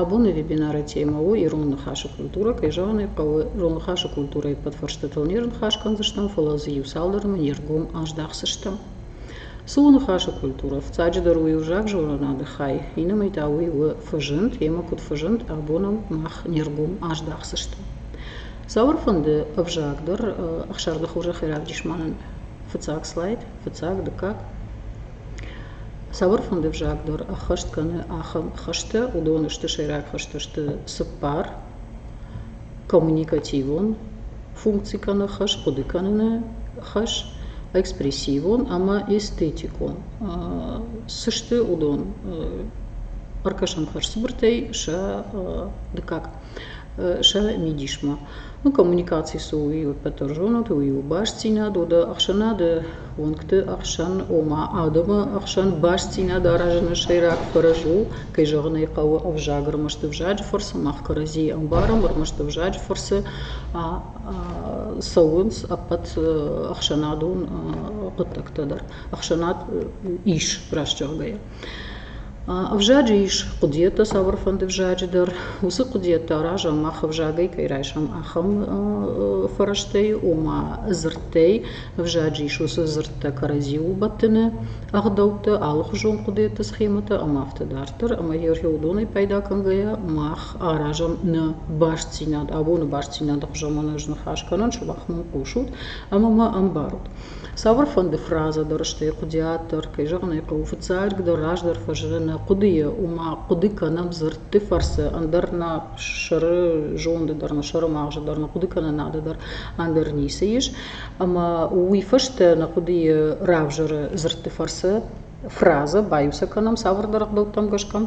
абоны вебинары темӕ у ирон ныхасы культурӕ кӕй зӕгъын ӕй хъӕуы ирон ныхасы культурӕйы подфӕрстытыл не рныхас кӕндзыстӕм фӕлӕ дзы иуцалдӕрмӕ не ргом аздахдзыстӕм цы у ныхасы культурӕ ӕфцӕджыдӕр у иу знаг зонынады хай иннӕмӕй та уый у фӕзынд йемӕ куыд фӕзынд абоныл мах не ргом аздахдзыстӕм цауырфӕнды ӕвзаг дӕр ӕхсӕрдыхурзӕхӕй равдис мӕнӕн фыццаг слайд фыццаг дыккаг Цавӕр фынды взаг дӕр ӕххӕст кӕны ахӕм хӕстӕ, уыдон сты сӕйраг хӕстӕ сты цыппар, коммуникативон функци кӕнӕ хӕс, хъуыды кӕныны хӕс, экспрессивон ӕмӕ эстетикон. Цы сты уыдон? Ӕркӕсӕм хӕрзцыбыртӕй сӕ дыккаг. сӕ мидисмӕ. Ну, коммуникаци цу уый уыппӕт ӕрзонут, уый у бастдзинад, уды ӕхсӕнады уӕнгты ӕхсӕн, ома адӕмы ӕхсӕн бастдзинад аразыны сӕйраг фӕрӕз у, кӕй зӕгъын ӕй хъӕуы, ӕвзаг ӕрмӕст ӕвзаджы фӕрцы мах кӕрӕдзийы ӕмбарӕм, ӕрмӕст ӕвзаджы фӕрцы цӕуынц ӕппӕт ӕхсӕнадон хъуыддӕгтӕ дӕр. Ӕхсӕнад ис, раст зӕгъгӕйӕ. Ӕвзаджы ис хъуыдыйӕдтӕ цавӕрфӕнды взаджы дӕр. Уыцы хъуыдыйӕдтӕ аразӕм, мах ӕвзагӕй кӕй райсӕм, ахӕм фӕрӕзтӕй, ома дзырдтӕй. Ӕвзаджы ис уыцы дзырдтӕ кӕрӕдзи убӕттыны ӕгъдӕуттӕ, алыхуызон хъуыдыйӕдты схемӕтӕ ӕмӕ афтӕ дарддӕр. Ӕмӕ егъау уыдонӕй пайда кӕнгӕйӕ мах аразӕм нӕ бастдзинад, абоны бастдзинады хуызӕн ма нӕ зныхас кӕнӕн, сымах мын хъусут ӕмӕ мӕ ӕмбарут. цавӕрфӕнды фразӕ дӕр сты хъуыдиат дӕр кӕй зӕгъын ӕй хъӕуы фыццаджыдӕр раздӕр фӕзыны нӕ хъуыдыйы ома хъуыды кӕнӕм дзырдты фӕрцы ӕндӕр нӕ сӕры зонды дӕр нӕ сӕры магъзы дӕр нӕ хъуыдыкӕнынады дӕр ӕндӕр ницы ис ӕмӕ уый фӕстӕ нӕ хъуыдыйы равзӕры дзырдты фӕрцы фразӕ баиу кӕнӕм цавӕрдӕр ӕгъдӕуттӕм гӕсгӕ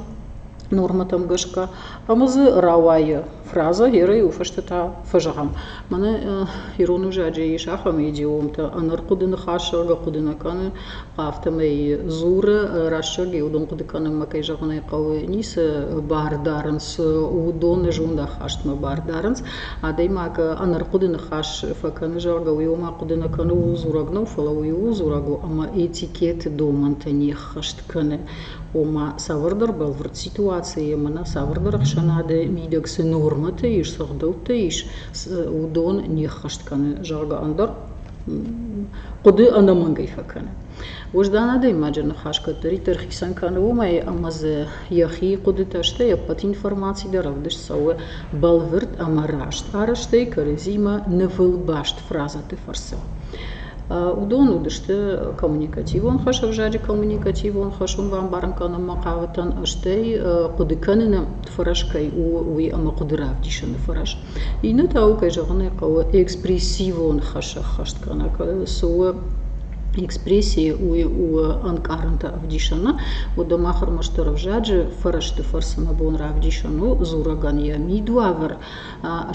нормӕтӕм гӕсгӕ ӕмӕ дзы рауайы фразӕ ерӕй у фӕстӕтӕ фӕзӕгъӕм мӕнӕ ирон узаджы ис ахӕм идиомтӕ ӕнӕрхъуыды ныхасзӕгъгӕ хъуыды нӕ кӕны афтӕмӕй дзуры рӕстӕг йӕ удон хъуыды кӕнынмӕ кӕй зӕгъын ӕй хъӕуы ницы бар дарынц уыдоны зондахастмӕ бар дарынц Адӕймаг ӕнӕрхъуыды ныхас фӕкӕны, зӕгъгӕ, уый ома хъуыды нӕ кӕны, ууыл дзурӕг нӕу, фӕлӕ уый ууыл дзурӕг у, ӕмӕ этикеты домӕнтӕ не ӕххӕст кӕны. Ома цавӕрдӕр бӕлвырд ситуацийы ӕмӕ нӕ цавӕрдӕр ӕхсӕнады мидӕг цы нормӕтӕ ис, цы ӕгъдӕуттӕ ис, уыдон не ӕххӕст кӕны, зӕгъгӕ, ӕндӕр хъуыды ӕнӕмӕнгӕй фӕкӕны. Уӕздан адӕймаджы ныхас кӕддӕриддӕр хицӕн кӕны уымӕй, ӕмӕ дзы йӕхи хъуыдытӕ, стӕй ӕппӕт информаци дӕр ӕвдыст цӕуы бӕлвырд ӕмӕ раст арӕзтӕй кӕрӕдзимӕ нывыл баст фразӕты фӕрцы. Уыдон уыдысты коммуникативон хӕс, ӕвзаджы коммуникативон хӕс уын бамбарын кӕнынмӕ хъавытӕн, стӕй хъуыды кӕныны фӕрӕз кӕй у, уый ӕмӕ хъуыды равдисыны фӕрӕз. Иннӕ та у, кӕй зӕгъын ӕй хъӕуы, экспрессивон хӕс ӕххӕст кӕнӕ. Цы у экспрессия у ӕнкъарӕнтӕ ӕвдисӕны. Уӕдӕ мах ӕрмӕстдӕр ӕвзаджы фӕрӕзты фӕрцы нӕ бон равдисӕн у дзурӕгӕн йӕ мидуавӕр,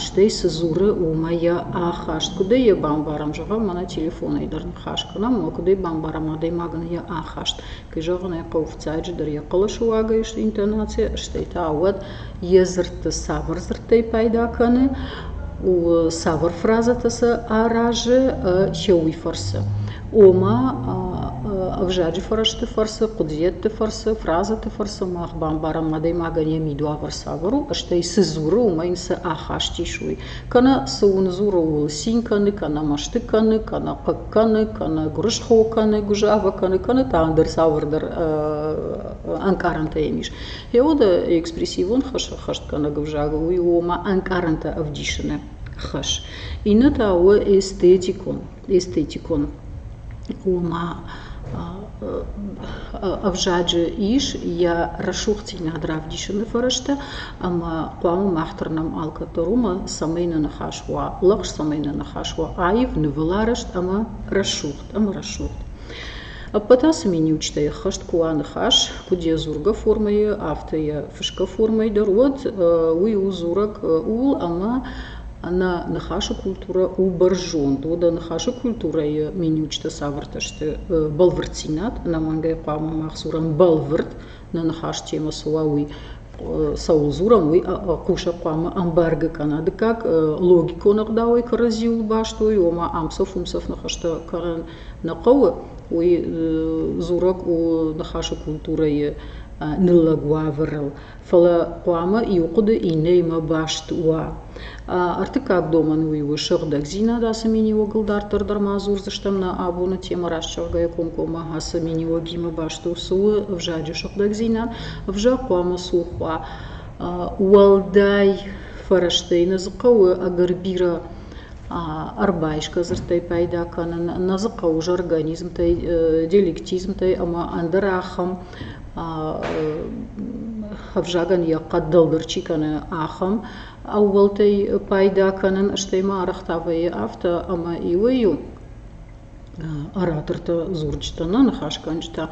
стӕй цы дзуры, уымӕ йӕ ахаст. Куыд ӕй бамбарӕм, зӕгъӕм, мӕнӕ телефонӕй дӕр ныхас кӕнӕм, ӕмӕ куыд ӕй бамбарӕм адӕймагӕн йӕ ахаст. Кӕй зӕгъын ӕй хъӕуы, фыццаджыдӕр йӕ хъӕлӕсыуагӕй сты интонацийӕ, стӕй та уӕд йӕ дзырдты цавӕр дзырдтӕй пайда кӕны, цавӕр фразӕтӕ сӕ аразы хьюый фӕрцы. Ома ӕвзаджы фӕрӕзты фӕрцы, хъуыдыйӕдты фӕрцы, фразӕты фӕрцы мах бамбарӕм адӕймагӕн йӕ мидуавӕр цавӕр у, стӕй цы дзуры, уымӕ йын цы ахаст ис, уый. Кӕнӕ цы уын дзуры, ууыл цин кӕны, кӕнӕ мӕсты кӕны, кӕнӕ хъыг кӕны, кӕнӕ гуырысхо кӕны, гуызавӕ кӕны, кӕнӕ та ӕндӕр цавӕрдӕр ӕнкъарӕнтӕ йӕм ис. Йеода экспрессивон хӕстгӕнӕг ӕвзаг у, уый у ома ӕнкъарӕнтӕ ӕвдисыны хӕс. Иннӕ та у эстетикон эстетикон ома ӕвзаджы ис йӕ рӕсугъддзинад равдисыны фӕрӕзтӕ ӕмӕ хъуамӕ мах тырнӕм алкӕддӕр уымӕ цӕмӕй нӕ ныхас уа лӕгъз цӕмӕй нӕ ныхас уа аив нывыл арӕзт ӕмӕ рӕсугъд ӕмӕ рӕсугъд ӕппӕт ацы миниуджытӕй ӕххӕст куы уа ныхас куыд йӕ дзургӕ формӕйы афтӕ йӕ фысгӕ формӕйы дӕр уӕд уый у дзурӕг ууыл ӕмӕ Ӕнӕ ныхасы культурӕ у бӕрзонд. Уӕдӕ ныхасы культурӕйы миниуджытӕ цавӕртӕ сты? Бӕлвырддзинад. Ӕнӕмӕнгӕй хъуамӕ мах дзурӕм бӕлвырд. Нӕ ныхас темӕ цы уа, уый цӕуыл дзурӕм, уый хъусӕг хъуамӕ ӕмбаргӕ кӕна. Дыккаг, логикон ӕгъдауӕй кӕрӕдзиуыл баст уой, ома ӕмцӕф-уымцӕф ныхӕстӕ кӕнын нӕ хъӕуы. Уый дзурӕг у ныхасы культурӕйы ныллӕг уавӕрыл. фӕлӕ хъуамӕ иу хъуыды иннӕимӕ баст уа. Ӕртыккаг домӕн уый у сыгъдӕгдзинад. Ацы мини-уогыл дарддӕр дӕр ма дзурдзыстӕм нӕ абоны темӕ расчергӕйӕ комкоммӕ. Ацы мини-уогимӕ баст у цы у ӕвзаджы сыгъдӕгдзинад. Ӕвзаг хъуамӕ цух уа. Уӕлдай фӕрӕзтӕй нӕ дзы хъӕуы ӕгӕр бирӕ ӕрбайсгӕ дзырдтӕй пайда кӕнын нӕ дзы хъӕуы ӕз организмтӕй диалектизмтӕй ӕмӕ ӕндӕр ахӕм ӕвзагӕн йӕ хъӕд дӕлдӕр чи кӕны ахӕм ӕууӕлтӕй пайда кӕнын стӕй ма арӕх та вӕййы афтӕ ӕмӕ иуӕй-иу ораторты дзурджытӕ нӕ ныхасгӕнджытӕ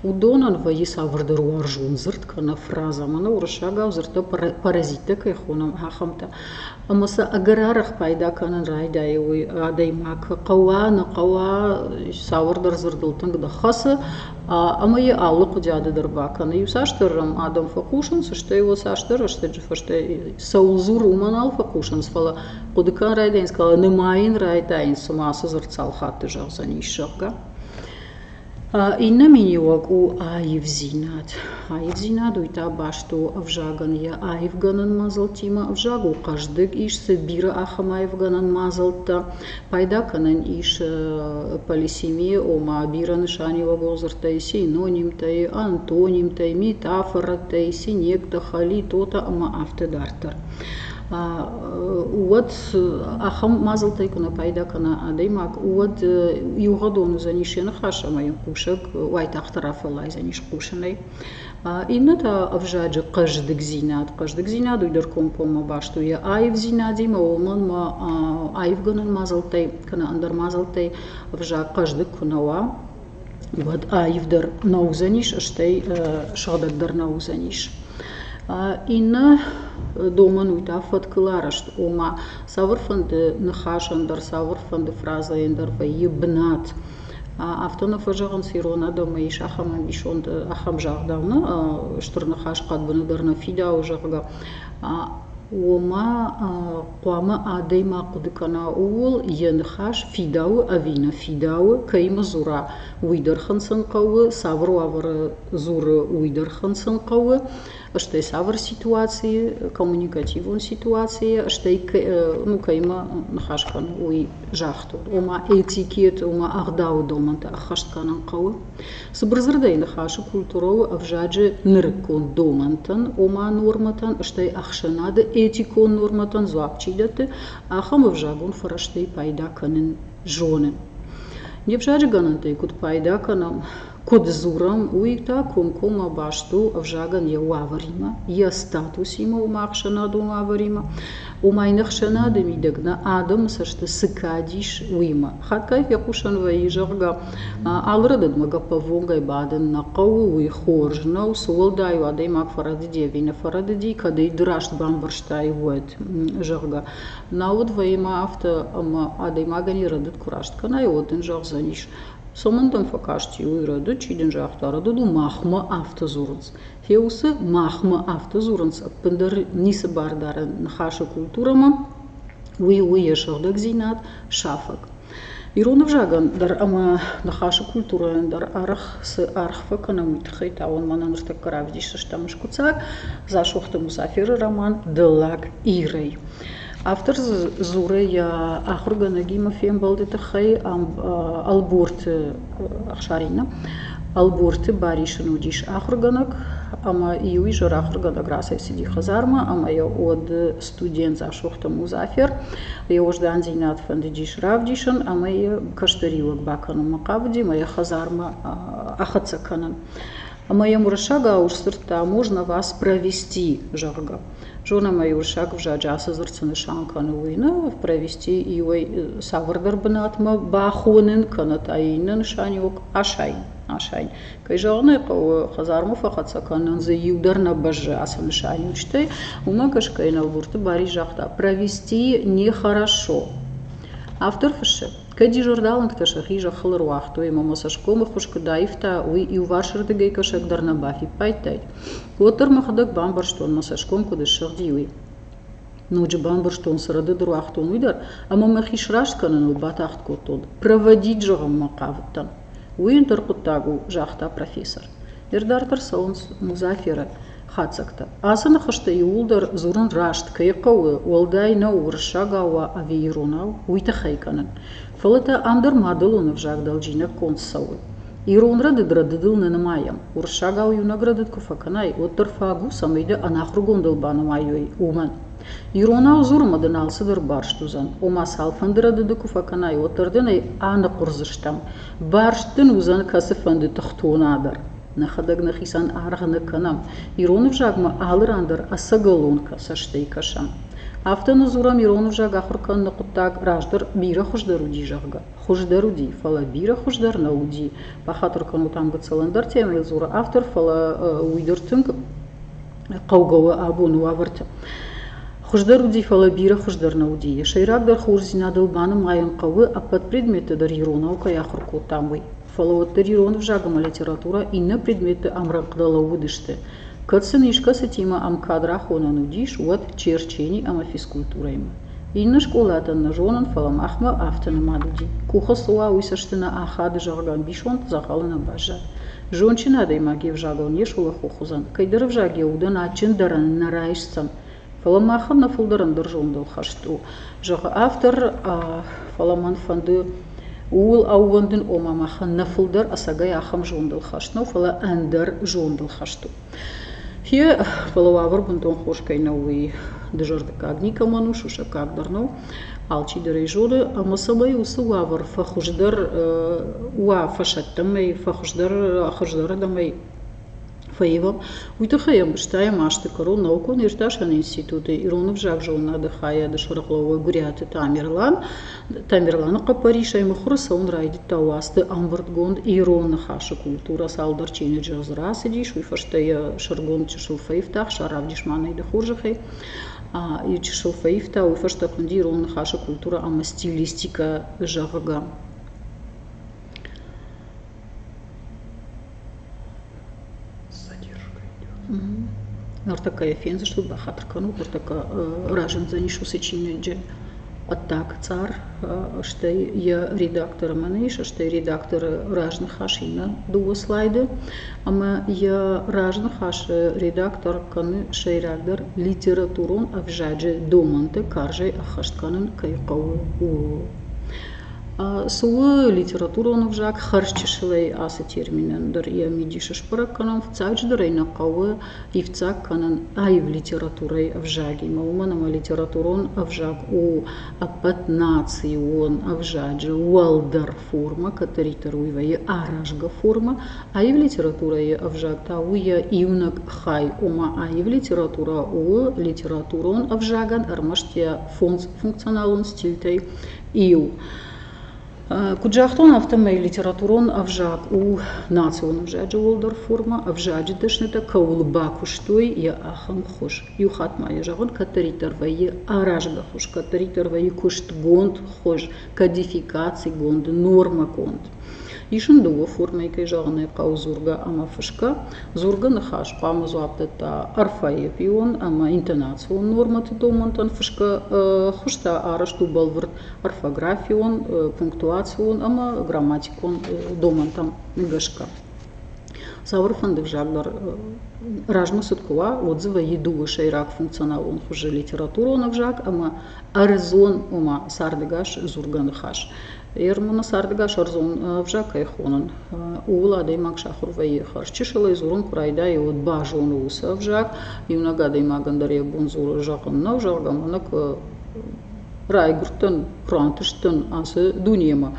уыдонӕн вӕййы цавӕрдӕр уарзон дзырд кӕнӕ фразӕ мӕнӕ уырыссагау дзырдтӕ паразиттӕ кӕй хонӕм ахӕмтӕ ӕмӕ сӕ ӕгӕр арӕх пайда кӕнын райдайы уый адӕймаг куы хъӕуа нӕ хъӕуа цавӕрдӕр дзырдыл тынг дӕр хӕцы ӕмӕ йӕ алы хъуыдиады дӕр бакӕны иуцасдӕр адӕм фӕхъусынц стӕй уыцасдӕр рӕстӕджы фӕстӕ цӕуыл дзуры уымӕ нал фӕхъусынц фӕлӕ хъуыды кӕн райдайынц кӕлы нымайын йын райдайын цыма ацы дзырд цал хатты зӕгъдзӕнис зӕгъгӕ иннӕ миниуӕг у аивдзинад аивдзинад уый та баст у ӕвзагӕн йӕ аивгӕнӕн мадзӕлттимӕ ӕвзаг у хъӕздыг ис цы бирӕ ахӕм аивгӕнӕн мадзӕлттӕ пайда кӕнӕн ис полисемийы ома бирӕ нысаниуӕгон дзырдтӕй синонимтӕй антонимтӕй метафорӕтӕй синектӕ хали тотӕ ӕмӕ афтӕ дарддӕр уӕд ахӕм мадзӕлттӕй куы нӕ пайда кӕна адӕймаг, уӕд иугъӕдон уыдзӕнис йӕ ныхас ӕмӕ йын кусӕг уайтагъд рафӕллайдзӕнис хъусынӕй. Иннӕ та ӕвзаджы хъӕздыгдзинад. Хъӕздыгдзинад уый дӕр комкоммӕ баст у йӕ аивдзинадимӕ, уымӕн ма аивгӕнӕн мадзӕлттӕй кӕнӕ ӕндӕр мадзӕлттӕй ӕвзаг хъӕздыг куы нӕ уа, уӕд аивдӕр нӕ уыдзӕнис, стӕй сыгъдӕгдӕр нӕ уыдзӕнис. Иннӕ домӕн у та фӕткыл арӕзт, ома цавӕрфӕнды ныхасӕн дӕр, цавӕрфӕнды фразӕйӕн дӕр вӕййы бынат. Афтӕ нӕ фӕзӕгъынц ирон адӕмы ис ахӕм ӕмбисонд, ахӕм загъдау нӕ стыр ныхас хъӕдбыны дӕр нӕ фидауы, зӕгъгӕ. Ома хъуамӕ адӕймаг хъуыды кӕна ууыл, йӕ ныхас фидауы ӕви нӕ фидауы, кӕимӕ дзура, уый дӕр хынцын хъӕуы, цавӕр уавӕры дзуры, уый дӕр хынцын хъӕуы, стӕй цавӕр ситуацийы, коммуникативон ситуацийы, стӕй ну кӕимӕ ныхас кӕны, уый загътыл. Ома этикет, ома ӕгъдауы домӕнтӕ ӕххӕст кӕнын хъӕуы. Цыбырдзырдӕй, ныхасы культурон ӕвзаджы нырыккон домӕнтӕн, ома нормӕтӕн, стӕй ӕхсӕнады этикон нормӕтӕн дзуапп чи дӕтты, ахӕм ӕвзагон фӕрӕзтӕй пайда кӕнын зоны. Не взаджы гӕнӕнтӕй куыд пайда кӕнӕм, куыд дзурӕм, уый та комкоммӕ баст у ӕвзагӕн йӕ уавӕримӕ, йӕ статусимӕ, ома ӕхсӕнадон уавӕримӕ, уымӕй не хсӕнады мидӕг нӕ адӕмы цӕсты цы кад ис, уыимӕ. Хатгай фехъусӕн вӕййы, зӕгъгӕ, алы рӕдыдмӕ гӕппӕввонгӕй бадын нӕ хъӕуы, уый хорз нӕу, цы уӕлдай у адӕймаг фӕрӕдыди ӕви нӕ фӕрӕдыди, кӕд ӕй раст бамбӕрстай, уӕд, зӕгъгӕ. Нӕ уд вӕййы афтӕ, ӕмӕ адӕймагӕн йӕ рӕдыд куы раст кӕнай, уӕд ын зӕгъдзӕнис, цомӕн дӕм фӕкасти, уый рӕдыд, чи дын загъта, рӕдыд у махмӕ, афтӕ дзурынц. Феусы, махмӕ афтӕ дзурынц, ӕппындӕр ницы бардарӕн ныхасы культурӕмӕ, уый у йӕ сыгъдӕгдзинад, сафӕг. Ирон ӕвзагӕн дӕр ӕмӕ ныхасы культурӕйӕн дӕр арӕх цы аргъ фӕкӕнӕм, уый тыххӕй та уын мӕнӕ ныртӕккӕ равдисдзыстӕм скуыддзаг Дзасохты Мусафиры роман «Дыллаг Ирӕй». автор дзуры йӕ ахуыргӕнӕгимӕ фембӕлды тыххӕй ӕлборты ӕхсаринӕ ӕлборты барисы уыдис ахуыргӕнӕг ӕмӕ иу изӕр ахуыргӕнӕг рацӕйцыди хӕдзармӕ ӕмӕ йӕ уӕды студент дзасохты музафер йӕ уӕздандзинад фӕндыдис равдисын ӕмӕ йӕ кӕстӕриуӕг бакӕнынмӕ хъавыди мӕ йӕ хӕдзармӕ ахӕццӕ кӕнын ӕмӕ йӕм уырыссагау сдзырдта можно вас провести зӕгъгӕ зонӕм ӕй уырыссаг ӕвзаджы ацы дзырд цы нысан кӕны уый нӕ провести иуӕй цавӕрдӕр бынатмӕ бахонын кӕнӕ та иннӕ нысаниуӕг асайын асайын кӕй зӕгъын ӕй хъӕуы хӕдзармӕ фӕхӕццӕ кӕнынӕн дзы иу дӕр нӕ бӕззы ацы нысаниуӕг стӕй уымӕ гӕсгӕ инӕлгурты барис загъта провести нехорошо автор фыссы Кӕд дижордалынгтӕ сӕхи зӕххыл ӕруагътой ӕмӕ мӕ цӕсгомы хуыз куыд аивта, уый иуварсырдыгӕй кӕсӕг дӕр нӕ бафиппайдтаид, уӕддӕр мӕхӕдӕг бамбӕрстон, мӕ цӕсгом куыд ссыгъди, уый. Ноджы бамбӕрстон, цы рӕдыд руагътон, уый дӕр, ӕмӕ мӕхи сраст кӕныныл батагъд кодтон. Проводить зӕгъынмӕ хъавыдтӕн. Уый ӕндӕр хъуыддаг у, загъта профессор. Ныр дӕр дӕр цӕуынц Музаферы хатдзӕгтӕ. Ацы ныхӕстӕ иууылдӕр дзурын раст кӕй хъӕуы, уӕлдай нӕу уырыссагау уа ӕви иронау, уый тыххӕй кӕнын. Фӕлӕ та ӕндӕр мадӕлон ӕвзаг дӕлджинӕг конд цӕуы. Ирон рӕдыд рӕдыдыл нӕ нымайӕм. Уырыссагау иунӕг рӕдыд куы фӕкӕнай, уӕддӕр фаг у, цӕмӕй дӕ ӕнахуыргондыл банымайой, уымӕн. Иронау дзурынмӕ дын алцыдӕр барст уыдзӕн, ома цалфӕнды рӕдыды куы фӕкӕнай, уӕддӕр дын ӕй аныхъуырдзыстӕм. барст дын уыдзӕн кӕцыфӕнды тыхтона дӕр нӕхӕдӕг нӕхицӕн аргъ нӕ кӕнӕм ирон ӕвзагмӕ алы ран дӕр ӕцӕгӕлон цӕстӕй кӕсӕм афтӕ нӕ дзурӕм ирон ӕвзаг ахуыр кӕныны хъуыддаг раздӕр бирӕ хуыздӕр уыди зӕгъгӕ хуыздӕр уыди фӕлӕ бирӕ хуыздӕр нӕ уыди бахатыр кӕнут ам гыццыл ӕндӕр темӕйыл дзуры автор фӕлӕ уый дӕр тынг хъӕугӕ у абоны уавӕрты. Хуыздӕр уыди, фӕлӕ бирӕ хуыздӕр нӕ уыди. Йӕ сӕйрагдӕр хорздзинадыл банымайын хъӕуы, ӕппӕт предметты дӕр иронау кӕй ахуыр кодтам, уый. Фӕлӕ уӕддӕр ирон ӕвзаг ӕмӕ литературӕ иннӕ предметты ӕмрӕнхъ-дӕ лӕууыдысты. Кӕд сын искӕцытимӕ ӕм кад рахонӕн уыдис, уӕд черчени ӕмӕ физкультурӕимӕ. Иннӕ скъолатӕн нӕ зонын, фӕлӕ махмӕ афтӕ нымад уыди. Къухы цы уа, уый цӕсты нӕ ахады, зӕгъгӕ, ӕмбисонд дзӕгъӕлы нӕ баззад. зондджын адӕймаг йе взагыл не сулӕфох уыдзӕн, кӕйдӕр ӕвзаг йӕ удӕн адджындӕрӕн нӕ райсдзӕн, фӕлӕ махӕн нӕ фылдӕр ӕндӕр зондыл хӕст у, зӕгъы автор, фӕлӕ мӕн фӕнды ууыл ӕууӕндын, ома махӕн нӕ фылдӕр ӕцӕгӕй ахӕм зондыл хӕст нӕу, фӕлӕ ӕндӕр зондыл хӕст у. Йе, фӕлӕ уавӕр бынтон хорз кӕй нӕу, уый дызӕрдыггаг никӕмӕн у, сусӕггаг дӕр нӕу, алчидӕр ӕй зоны. Ӕмӕ цӕмӕй уыцы уавӕр фӕхуыздӕр уа фӕсӕттӕмӕй, фӕхуыздӕр хуыздӕрырдӕмӕй фӕивӕм, уый тыххӕй ӕмбӕстӕйӕн азты кӕрон наукон-иртасӕн институты ирон ӕвзаг зонынады хайады сӕргълӕууӕг Гуыриаты Тамерлан Тамерланы хъӕппӕрисӕй мыхуыры цӕуын райдыдта уацты ӕмбырдгонд ирон ныхасы культурӕ. Цалдӕр чиныджы дзы рацыдис, уый фӕстӕ йӕ сӕргонд чысыл фӕивта, Хсар равдис-ма нӕй дӕ хорзӕхӕй. Йӕ чысыл фӕивта, уый фӕстӕ хуынди ирон ныхасы культурӕ ӕмӕ стилистикӕ, зӕгъгӕ. Нартӕккӕ йӕ фендзыстут, бахатыр кӕнут, ныртӕккӕ разындзӕнис уыцы чиныджы хъуыддаг цъар, стӕй йӕ редакторы мӕнӕ ис, стӕй редакторы разныхас иннӕ дыууӕ слайды, ӕмӕ йӕ разныхасы редактор кӕны сӕйрагдӕр литературон ӕвзаджы домӕнты карзӕй ӕххӕст кӕнын кӕй хъӕуы, ууыл. Цы у литературон ӕвзаг? Хӕрзчысылӕй ацы термин ӕндӕр йӕ мидис сбӕрӕг кӕнын фыццаджыдӕр ӕй нӕ хъӕуы ивддзаг кӕнын аив литературӕйы ӕвзагимӕ, уымӕн ӕмӕ литературон ӕвзаг у ӕппӕтнацион ӕвзаджы уӕлдӕр форма, кӕддӕриддӕр уый вӕййы аразгӕ форма. Аив литературӕйы ӕвзаг та у йӕ иунӕг хай, ома аив литературӕ у литературон ӕвзагӕн ӕрмӕст йӕ функционалон стильтӕй Иу. Куыд загътон, афтӕмӕй литературон ӕвзаг у национ ӕвзаджы уӕлдӕр форма, ӕвзаджы дӕснытӕ кӕуыл бакуыстой, йӕ ахӕм хуыз. Иу хатт ма йӕ зӕгъон, кӕддӕриддӕр вӕййы аразгӕ хуыз, кӕддӕриддӕр вӕййы куыстгонд хуыз, кодификацигонд, нормӕгонд. ис ын дыууӕ формӕйы кӕй зӕгъын ӕй хъӕуы дзургӕ ӕмӕ фысгӕ дзургӕ ныхас хъуамӕ дзуапп дӕтта орфоэпион ӕмӕ интонацион нормӕты домӕнтӕн фысгӕ хуызтӕ арӕзт у бӕлвырд орфографион пунктуацион ӕмӕ грамматикон домӕнтӕм гӕсгӕ цауыр фӕнды взаглдар размӕ цыд куы уа уӕд дзы вӕййы дыууӕ сӕйраг функционалон хуызы литературон ӕвзаг ӕмӕ ӕрдзон, ома цардӕгас дзургӕ ныхас. Ермоны цардӕгас ӕрдзон ӕвзаг кӕй хонын, ууыл адӕймаг сахуыр вӕййы хӕрз чысыл ӕй дзурын куы райдайы, уӕд базоны уыцы ӕвзаг. Иунӕг адӕймагӕн дӕр йӕ бон дзурын зӕгъын нӕу, зӕгъгӕ, мӕнӕ куы райгуырдтӕн, куы рантысдтӕн ацы дунемӕ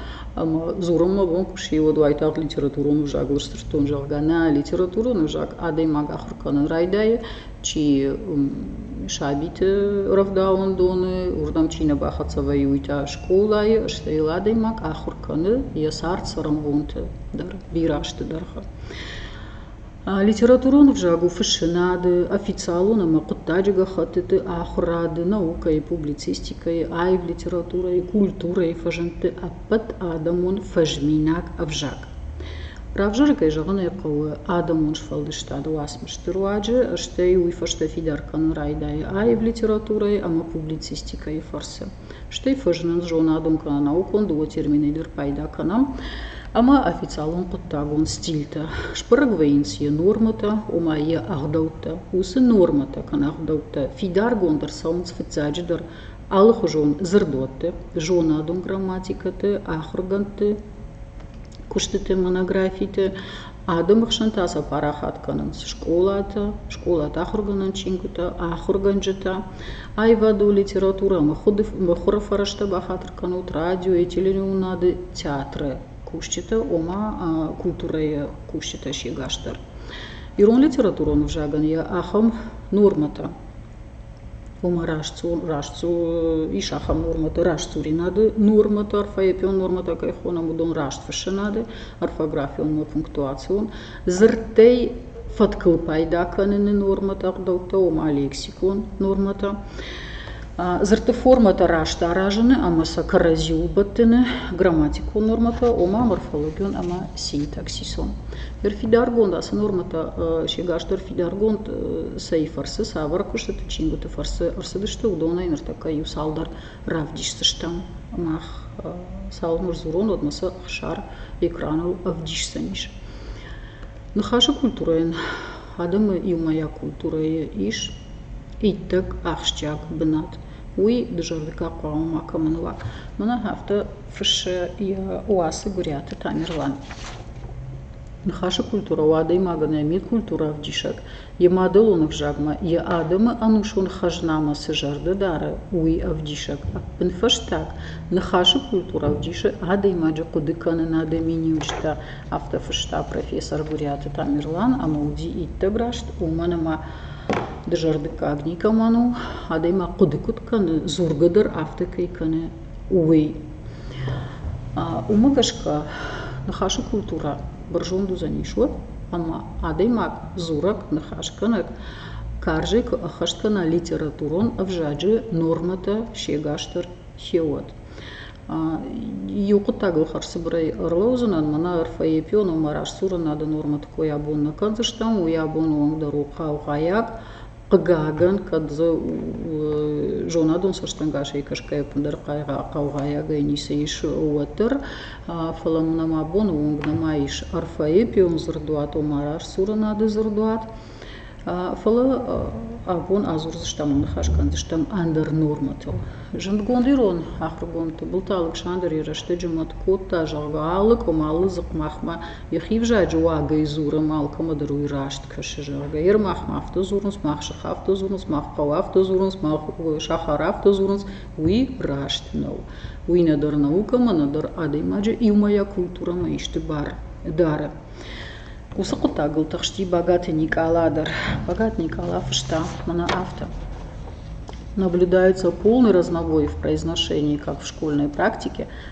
ӕмӕ дзурын мӕ бон куы сси, уӕд уайтагъд литературон ӕвзагыл сдзырдтон, зӕгъгӕ. Нӕ литературон ӕвзаг адӕймаг ахуыр кӕнын райдайы, чи сабиты рӕвдауӕндоны, уырдӕм чи нӕ бахӕццӕ вӕййы, уый та скъолайы, стӕй йыл адӕймаг ахуыр кӕны йӕ цард цӕрӕнбонты дӕр, бирӕ азты дӕргъы. Литературон ӕвзаг у фыссынады, официалон ӕмӕ хъуыддаджы гӕххӕттыты ахуырады, наукӕйы, публицистикӕйы, аив литературӕйы, культурӕйы фӕзындты ӕппӕт адӕмон фӕзминаг ӕвзаг. Равзаргӕ зӕгъын ӕй хъӕуы адӕмон сфӕлдыстады уацмысты руаджы, стӕй уый фӕстӕ фидар кӕнын райдайы аив литературӕйы ӕмӕ публицистикӕйы фӕрцы. Стӕй фӕзынынц зонадон кӕнӕ наукон дыууӕ терминӕй дӕр пайда кӕнӕм ӕмӕ официалон хъуыддагон стильтӕ. Сбӕрӕг вӕййынц йӕ нормӕтӕ, ома йӕ ӕгъдӕуттӕ. Уыцы нормӕтӕ кӕнӕ ӕгъдӕуттӕ фидаргонд ӕрцӕуынц фыццаджыдӕр алыхуызон дзырдуӕтты, зонадон грамматикӕты, ахуыргӕндты, куыстыты монографиты адӕмы хсӕн та сӕ парахат кӕнынц скъолатӕ скъолаты ахуыргӕнӕн чингуытӕ ахуыргӕнджытӕ аивады у литературӕ мыхуыры фӕрӕзтӕ бахатыр кӕнут радиойы телеуынынады театры кусджытӕ ома культурӕйы кусджытӕ сегасдӕр ирон литературон ӕвзагӕн йӕ ахӕм нормӕтӕ ома растдзу ис ахӕм нормӕтӕ растдзуринады нормӕтӕ орфоэпион нормӕтӕ кӕй хонӕм уыдон растфыссынады орфографион ӕмӕ пунктуацион дзырдтӕй фӕткыл пайда кӕныны нормӕтӕ ӕгъдӕуттӕ ома лексикон нормӕтӕ дзырдты формӕтӕ раст аразыны ӕмӕ сӕ кӕрӕдзи убӕттыны грамматикон нормӕтӕ ома морфологион ӕмӕ синтаксисон Ныр фидаргонд ацы нормӕтӕ сегасдӕр фидаргонд цӕй фӕрцы, цавӕр куыстыты, чингуыты фӕрцы ӕрцыдысты, уыдонӕй ныртӕккӕ иу-цалдӕр равдисдзыстӕм. Мах цалынмӕ сдзурон, уӕдмӕ сӕ ӕхсар экраныл ӕвдисдзӕнис. Ныхасы культурӕйӕн адӕмы иумӕйаг культурӕйы ис иттӕг ахсджиаг бынат. Уый дызӕрдыгӕн хъуамӕ макӕмӕн уа. Мӕнӕ афтӕ фыссы йӕ уацы Гуыриаты Тамерлан. Ныхасы культурӕ у адӕймагӕн йӕ мидкультурӕвдисӕг, йӕ мадӕлон ӕвзагмӕ, йӕ адӕмы ӕнусон хӕзнамӕ цы зӕрды дары, уый ӕвдисӕг. Ӕппынфӕстаг, ныхасы культурӕ ӕвдисы адӕймаджы хъуыдыкӕнынады миниуджытӕ, афтӕ фыста профессор Гуыриаты Тамерлан ӕмӕ уыди иттӕг раст, уымӕн ӕмӕ дызӕрдыггаг никӕмӕн у, адӕймаг хъуыды куыд кӕны, дзургӕ дӕр афтӕ кӕй кӕны, уый уымӕ гӕсгӕ ныхасы культурӕ бӕрзонд уыдзӕнис уӕд ӕмӕ адӕймаг дзурӕг ныхасгӕнӕг карзӕй куы ӕххӕст кӕна литературон ӕвзаджы нормӕтӕ сегасдӕр феуӕд иу хъуыддагыл хӕрзцыбырӕй ӕрлӕудзынӕн мӕнӕ орфоэпион омӕ растдзурынады нормӕты кой абон нӕ кӕндзыстӕм уый абоны онг дӕр у хъаугъайаг Хъыгагӕн, кӕд дзы зонадон цӕстӕнгасӕй кӕсгӕйӕ ӕппындӕр хъаугъайӕгӕй ницы ис, уӕддӕр. Фӕлӕ мӕн ӕмӕ абоны онг нӕма ис арфӕйы эпион дзырдуат, ома растсурынады дзырдуат. Фӕлӕ абон адзурдзыстӕм ӕмӕ ныхас кӕндзыстӕм ӕндӕр нормӕтыл. Зындгонд ирон ахуыргонд Тыбылты Алыксандр йӕ рӕстӕджы мӕт кодта, зӕгъгӕ, алы къуым, алы дзыхъ махмӕ Йӕхи взаджы уагӕй дзурӕм, алкӕмӕ дӕр уый раст кӕсы, зӕгъгӕ. Йе рмӕгъмӕ афтӕ дзурынц, мах сых афтӕ дзурынц, мах хъӕу афтӕ дзурынц, мах сахар афтӕ дзурынц. Уый раст нӕу. Уый нӕдӕр наукӕмӕ, нӕдӕр адӕймаджы иумӕйаг культурӕмӕ исты бар дары. Уыцы хъуыддагыл тыхсти Багаты Никъала дӕр. Багат Никъала фыста мӕнӕ афтӕ. Наблюдается полный разнобой в произношении как в школьной практике,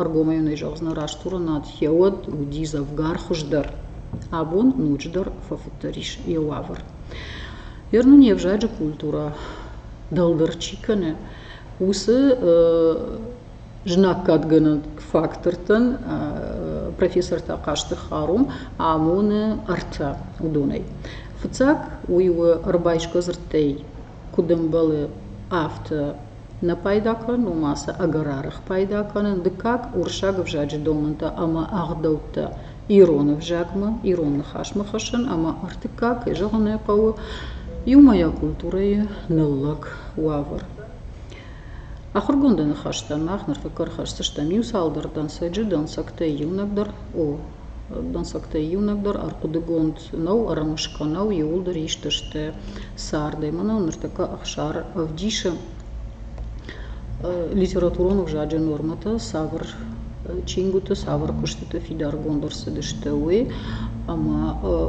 ӕргомӕй зӕгъдзынӕ раст уырынад йӕ уӕд уыди дзӕвгар хуыздӕр абон ноджыдӕр фӕфыддӕр ис йӕ уавӕр ӕр нын йе взаджы культурӕ дӕлдӕр чи кӕны уыцы знаггадгӕнӕг фактортӕн профессортӕ хъазты харум амоны ӕртӕ уыдонӕй фыццаг уый у ӕрбайсгӕ дзырдтӕй куыд ӕмбӕлы афтӕ нӕ пайда кӕнын уымӕ цы ӕгӕр арӕх пайда кӕнын дыккаг уырыссаг ӕвзаджы домӕнтӕ ӕмӕ ӕгъдӕуттӕ ирон ӕвзагмӕ ирон ныхасмӕ хӕссын ӕмӕ ӕртыккаг кӕй зӕгъын ӕй хъӕуы иумӕйаг культурӕйы ныллӕг уавӕр ахуыргонды ныхӕстӕн мах ныртӕккӕ ӕрхӕсдзыстӕм иу цалдӕр дӕнцӕджы дӕнцӕгтӕй иунӕгдӕр о Дӕнцӕгтӕй иунӕгдӕр ӕрхъуыдыгонд нӕу, ӕрымысгӕ нӕу, иууылдӕр ист сты цардӕй. Мӕнӕ ныртӕккӕ Ӕхсар ӕвдисы литературон ӕвзаджы нормӕтӕ цавӕр чингуыты, цавӕр куыстыты фидаргонд ӕрцыдысты, уый. Ӕмӕ